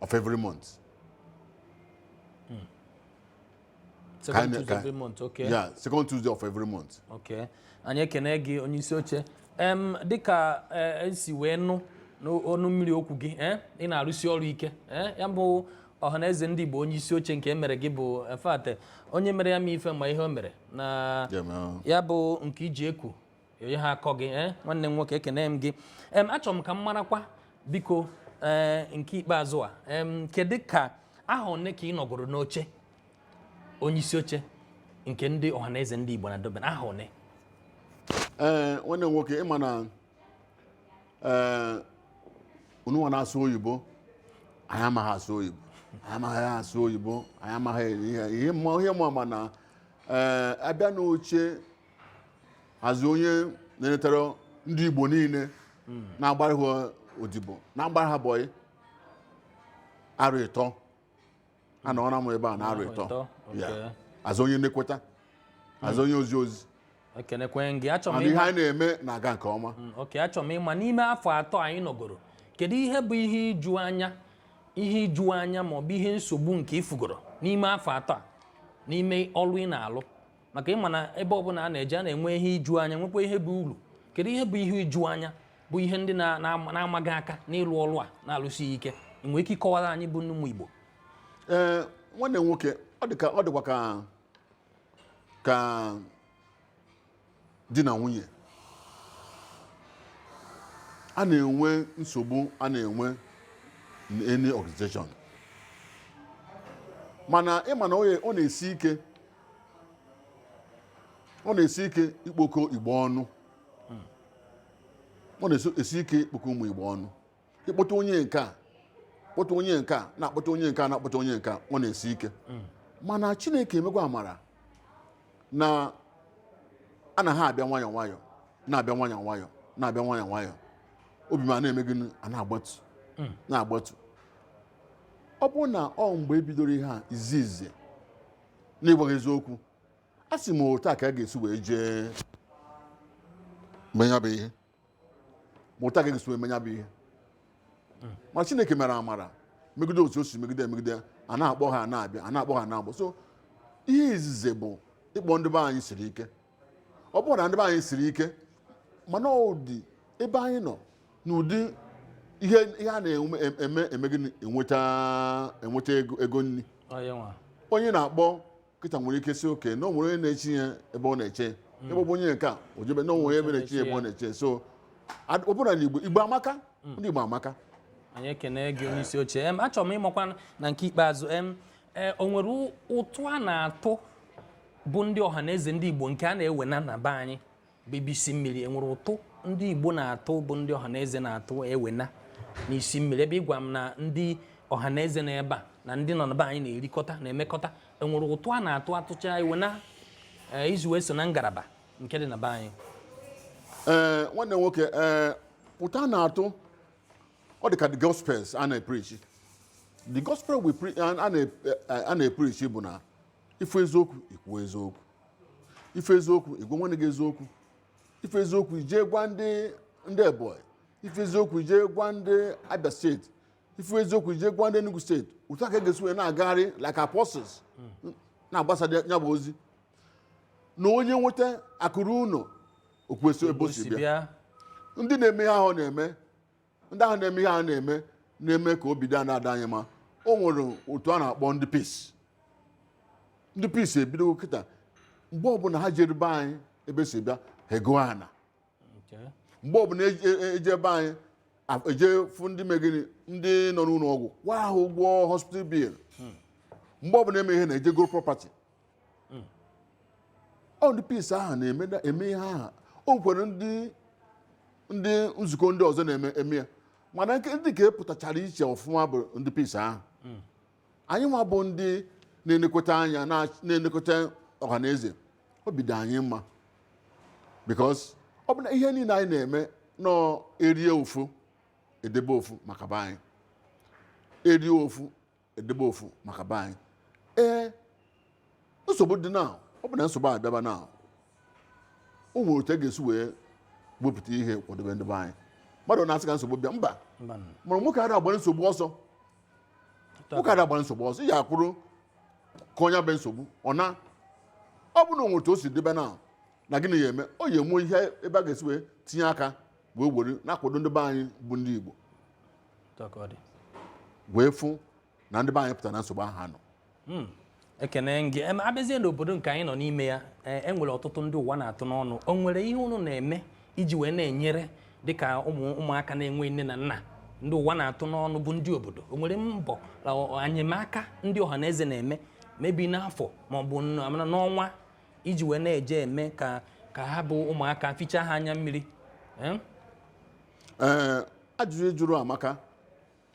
of every month second Ka- Tuesday ka- every month okay yeah second tuesday of every month okay anyị ekene gị onye isi oche em dịka eh, m si wee nụ n'ọnụ mmiri okwu gị eh, ị na-arụsi ọrụ ike eh, ya bụ ọhaneze ndị igbo onye isi oche nke e mere gị bụ in fact onye mere ya ma ife ma ihe o mere na Yeah, man. ya bụ nke ị ji ekwu ọ yaha akọ gị eh? nwanne m nwoke ekene m gị em achọrọ m ka m marakwa biko ee eh, nke ikpeazụ a em kedu ka aha one ka ị nọgoro n'oche onye isi oche nke ndị ọhaneze ndị Igbo na Durban aha one ee eh, nwanne m nwoke ị ma na ee unuwa na-asụ oyibo anyị amaghị asụ oyibo anyị amaghị asụ oyibo anyị amaghị ihe ihe mma mana ee abịa n'oche hazi onye na-enetere ndị Igbo niile na-agbara ha odibo na-agbara ha bọyị arọ ịtọ anọọna m ebe a na arọ ịtọ Ịtọ, Ya. okay. ezi onye nnekọta ezi onye ozi ozi ekenekwe gị achọrọ m ịma na ihe anyị na-eme na-aga nke ọma okay achọrọ m ịma n'ime afọ atọ anyị nọgoro kedu ihe bụ ihe iju anya ihe iju anya ma ọ bụ ihe nsogbu nke i fugoro n'ime afọ atọ a n'ime ọrụ ị na-alụ maka ị ma na ebe ọbụla a na-eje a na-enwe ihe iju anya nwekwa ihe bụ uru kedu ihe bụ ihe iju anya bụ ihe ndị na-ama gị aka n'ịlụ ọrụ a na-alụsi ike i nwere ike ịkọwara anyị bụ ụmụ Igbo ee nwanne nwoke ọ dịkwa ka ka di na nwunye a na-enwe nsogbu a na-enwe n'any organization mana ị ma na ọ na-esi ike ọ na-esi ike ikpokọ Igbo ọnụ ọ na-esi ike ikpokọ ụmụ Igbo ọnụ ịkpọta onye nke a kpọta onye nke a na-akpọta onye nke a na-akpọta onye nke a ọ na-esi ike mana chineke emegwa amara na a na ha abịa nwayọọ nwayọọ na-abịa nwayọọ nwayọọ na-abịa nwayọọ nwayọọ obi ma na-eme gịnị a na-agbatu na-agbatu ọ bụrụ na ọ mgbe e bidoro ihe a izizi n'ịgwa gị eziokwu a sị m otu a ka a ga-esi wee jee mee nya bụ ihe ma otu a ka a ga-esi wee mee nya bụ ihe ma chineke mere amara megide otu o si megide emegide a na-akpọ ha na-abịa a na-akpọ ha na-agba ọsọ ihe izizi bụ ịkpọ ndị be anyị siri ike ọ bụrọ na ndị be anyị siri ike mana ụdị ebe anyị nọ n'ụdị ihe a na-eme gịnị enweta ego nri onye nwa onye na-akpọ kịta nwere ike sị okay na o nwere onye na-echi ya ebe ọ na-eche ebe ọ bụ onye nke a o jebe na o nwere ebe na-echi ya ebe ọ na-eche so ad- ọ bụrụ na igbo igbo amaka ndị igbo amaka anyị ekene gị onye isi oche em achọrọ m ịmakwa na nke ikpeazụ em e, o nwere ụ- ụtụ a na-atụ bụ ndị ọha na eze ndị Igbo nke a na-ewena na be anyị bụ isi mmiri e nwere ụtụ ndị Igbo na-atụ bụ ndị ọha na eze na-atụ ewena n'isi mmiri ebe ị gwa m na ndị ọha na eze na ebe a na ndị nọ na be anyị na-erikọta na-emekọta e nwere ụtụ a na-atụ a tụcha ewena eh, izu wee so na ngalaba nke dị na be anyị eh, nwanne nwoke eh, ụtụ a na-atụ ọ dị ka the gospel a na-epreach the gospel a na-epreach bụ na ị fụ eziokwu i kwuo eziokwu ị fụ eziokwu ị gwa nwanne gị eziokwu ị fụ eziokwu i jee gwa ndị ndị ebonyi ị fụ eziokwu i jee gwa ndị abia steeti ị fụ eziokwu i jee gwa ndị enugu steeti otu a ka a ga-esi wee na-agagharị like apostles na-agbasa ya bụ ozi na onye nweta akụ ruo ụlọ o kwuo ebe o si bịa ndị na-eme ihe ahụ na-eme ndị ahụ na-eme ihe a na-eme na-eme ka obi dị a na-adị anyị mma o nwere otu a na-akpọ ndị peace ndị peace ebidogo kịta mgbe ọbụla ha jere be anyị ebe si bịa ha ego ana Okay. mgbe ọbụla eje- e- eje be anyị a- eje fụ ndị megịnị ndị nọ n'ụlọ ọgwụ kwaa ha ụgwọ hospital bill mgbe ọbụla eme ihe na-ejegoro property hmm. ọ ndị peace ahụ na-eme ihe ahụ o nwekwara ndị ndị nzukọ ndị ọzọ na-eme eme ya mana nke ndị nke pụtachara iche ọfụma bụ ndị peace ahụ hmm. anyị nwa bụ ndị na-elekọta anya na-elekọta ọha na eze obi dị anyị mma because ọ bụ na ihe niile anyị na-eme nọọ erie ofu edebe ofu maka be anyị erie ofu edebe ofu maka be anyị ee nsogbu dị na ọ bụ na nsogbu a bịaba na o nwere otu a ga-esi wee wepụta ihe kwadebe ndị be anyị mmadụ na-asị ka nsogbu bịa mba Mbanụ. mana nwoke ada agbara nsogbu ọsọ nwoke ada agbara nsogbu ọsọ ị ya-akwụrụ ka onye bụ nsogbu ọ na ọ bụ na o nwee otu o si daba na na gịnị ya eme ọ ya enwe ihe ebe a ga-esi wee tinye aka wee were na-akwado ndị be anyị bụ ndị Igbo wee fụ na ndị be anyị pụtara na nsogbu ahụ ha nọ hmm. ekene gị abịazie n'obodo nke anyị nọ n'ime ya enwere e ọtụtụ ndị ụwa na-atụ n'ọnụ o nwere ihe unu na-eme iji wee na-enyere dịka ụmụ ụmụaka na-enwe nne na nna ndị ụwa na-atụ n'ọnụ bụ ndị obodo o nwere mbọ enyemaka ndị ọha na eze na-eme maybe n'afọ ma ọ bụ n'ọnwa iji wee na-eje eme ka ka ha bụ ụmụaka fichaa ha anya mmiri ajụjụ ị jụrụ amaka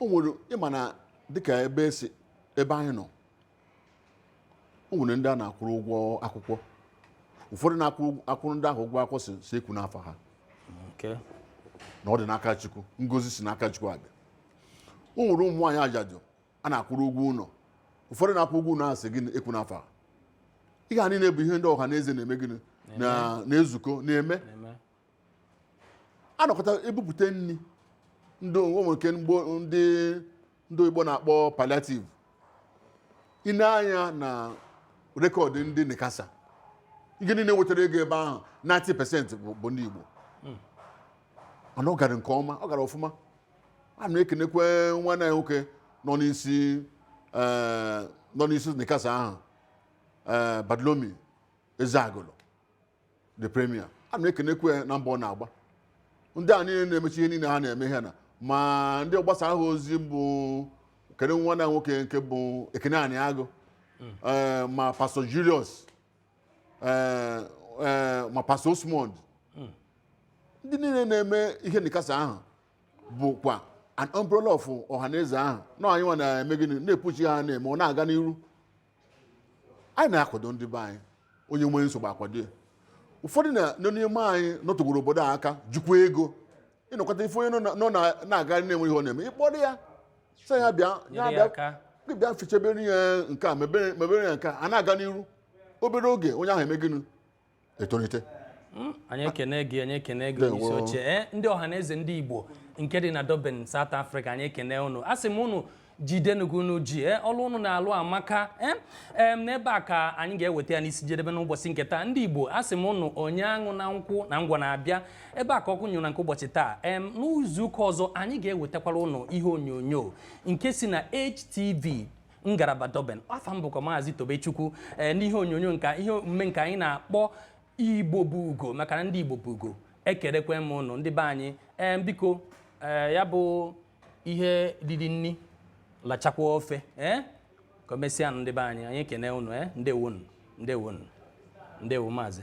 o nwere ịma na dịka ebe esi ebe anyị nọ o nwere ndị a na-akwụrụ ụgwọ akwụkwọ ụfọdụ na-akwụrụ ndị ahụ ụgwọ akwụkwọ sị sị ekwuna afa ha Okay. na ọ dị n'aka chukwu ngozi si n'aka chukwu abịa o nwere ụmụ nwaanyị ajadu a na-akwụrụ ụgwọ ụlọ ụfọdụ na-akwụ ụgwọ ụlọ asị gị ekwuna afa ha ihe a niile bụ ihe ndị ọha na eze na-eme gịnị na na-ezukọ na-eme Amen. anọkọta ebupụta nri ndị o nwere nke ndị ndị oyibo na-akpọ palliative i nee anya na rekọdụ ndị nicasa ihe niile wetara ego ebe ahụ 90 pesentị bụ bụ ndị igbo mana ọ gara nke ọma ọ gara ọfụma a na-ekenekwe nwanne anyị nwoke nọ n'isi eh, nọ n'isi nicasa ahụ eh, bartholomew eziagụlụ the premier a na-ekenekwu ya na mbọ ọ na-agba ndị a niile na-emechi ihe niile ha na-eme ihe na ma ndị ọgbasa ha ozi bụ kene nwanne anyị nwoke nke bụ ekene aniagụ ee, ma pastọ julius ee, ee, ma pastọ osmond ndị niile na-eme ihe nicasa ahụ bụkwa an umbrella of ọhaneze ahụ na anyị nwa na-eme gịnị na-epuchi ha na-eme ọ na-aga n'iru anyị na-akwado ndị be anyị onye nwee nsogbu a kwado ya ụfọdụ na- nọ n'ime anyị nọtegoro obodo a aka jikwa ego ị nọkata ị fụ onye nọ na- nọ na- na-agagharị na-enweghị ihe ọ na-eme ị kpọrọ ya sị ya bịa Nyere ya bịa- aka. gị bịa fichebere ya nke a mebere mebere ya nke a a na-aga n'iru obere oge onye ahụ eme gịnị etolite hmm, anyị ekene gị anyị ekene gị onyeisi oche eh, ndị ọhaneze ndị Igbo nke dị na Durban South Africa anyị ekene unu asị m unu jidenụ ka unu ji eh, ọlụ unu na-alụ amaka eh, n'ebe a ka anyị ga-eweta ya n'isi jedebe n'ụbọchị nke taa ndị Igbo asị m unu onye aṅụna nkwụ na ngwọ na-abịa ebe a ka ọkụ nyụrụ na nke ụbọchị taa em n'izu ụka ọzọ anyị ga-ewetakwara unu ihe onyonyo nke si na HTV ngaraba Durban afa m bụkwa maazị Tobechukwu ee n'ihe onyonyo nke a ihe omume nke anyị na-akpọ Igbo bụ ugo maka na ndị Igbo bụ ugo ekerekwe m ụnụ ndị be anyị ee biko ee ya bụ ihe riri nri lachakwa ofe ee ka o mesịa nụ ndị be anyị anyị ekene ụnụ ee ndewonu ndewonu ndewo maazị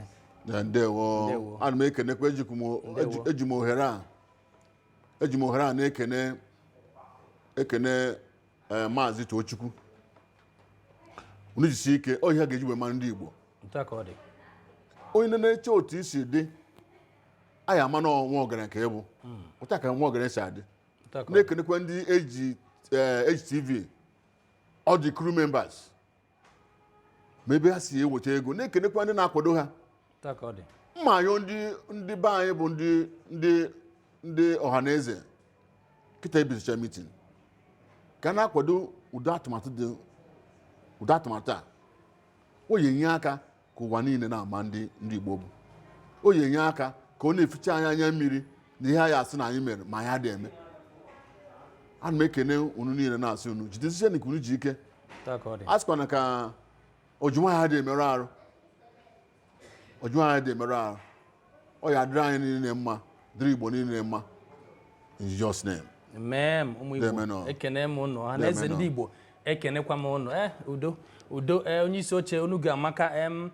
Ya, ndewo Ndewo. ana m ekenekwa ejikwu m o- Ndewo. eji- eji m ohere a eji m ohere a na-ekene ekene ee maazị Tochukwu unu jisie ike ọ ihe a ga-eji wee mara ndị Igbo otu a ka ọ dị onye nọ na-eche otu i si dị anyị ama na nwa ọgaranya ka ị bụ otu a ka nwa ọgaranya si adị otu a ka ọ dị na-ekenekwa ndị H eh, HTV all the crew members ma ebe ha si eweta ego na-ekenekwa ndị na-akwado ha ma anyị ndị ndị be anyị bụ ndị ndị ndị ọhaneze kịta e bisịchaa mitin ka na-akwado ụdị atụmatụ dị ụdị atụmatụ a ọ ya-enye aka ka ụwa niile na-ama ndị ndị Igbo bụ ọ ya-enye aka ka ọ na-eficha anyị anya mmiri na ihe anyị asị na anyị mere ma anyị adị eme ana m ekene unu niile na-asị unu jidesiche nke unu ji ike a sịkwana ka oji nwayọ adị emerụ arụ oji nwayọ adị emerụ arụ ọ ya dịrị anyị niile mma dịrị igbo niile mma in jesus name amen ụmụ igbo ekene m ụnụ ọha na eze ndị igbo ekenekwa m ụnụ eh udo udo eh onye isi oche ọnụ gị amaka em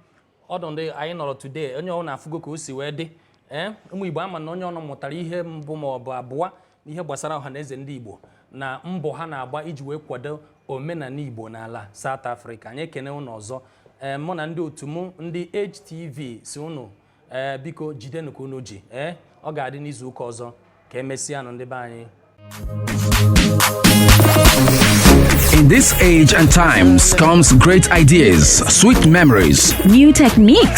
ọdụ ndị anyị nọrọ today onye ọbụna afụgo ka o si wee dị eh ụmụ igbo ama m na onye ọbụna mụtara ihe mbụ ma ọ bụ abụọ n'ihe gbasara ọha na eze ndị Igbo na mbọ ha na-agba iji wee kwado omenala Igbo n'ala South Africa anyị ekene ụnụ ọzọ ee mụ na ndị otu mụ ndị HTV sị ụnụ ee biko jidenụ ka unu ji ee ọ ga-adị n'izu ụka ọzọ ka emesịanụ ndị be anyị In this age and times comes great ideas, sweet memories, New techniques.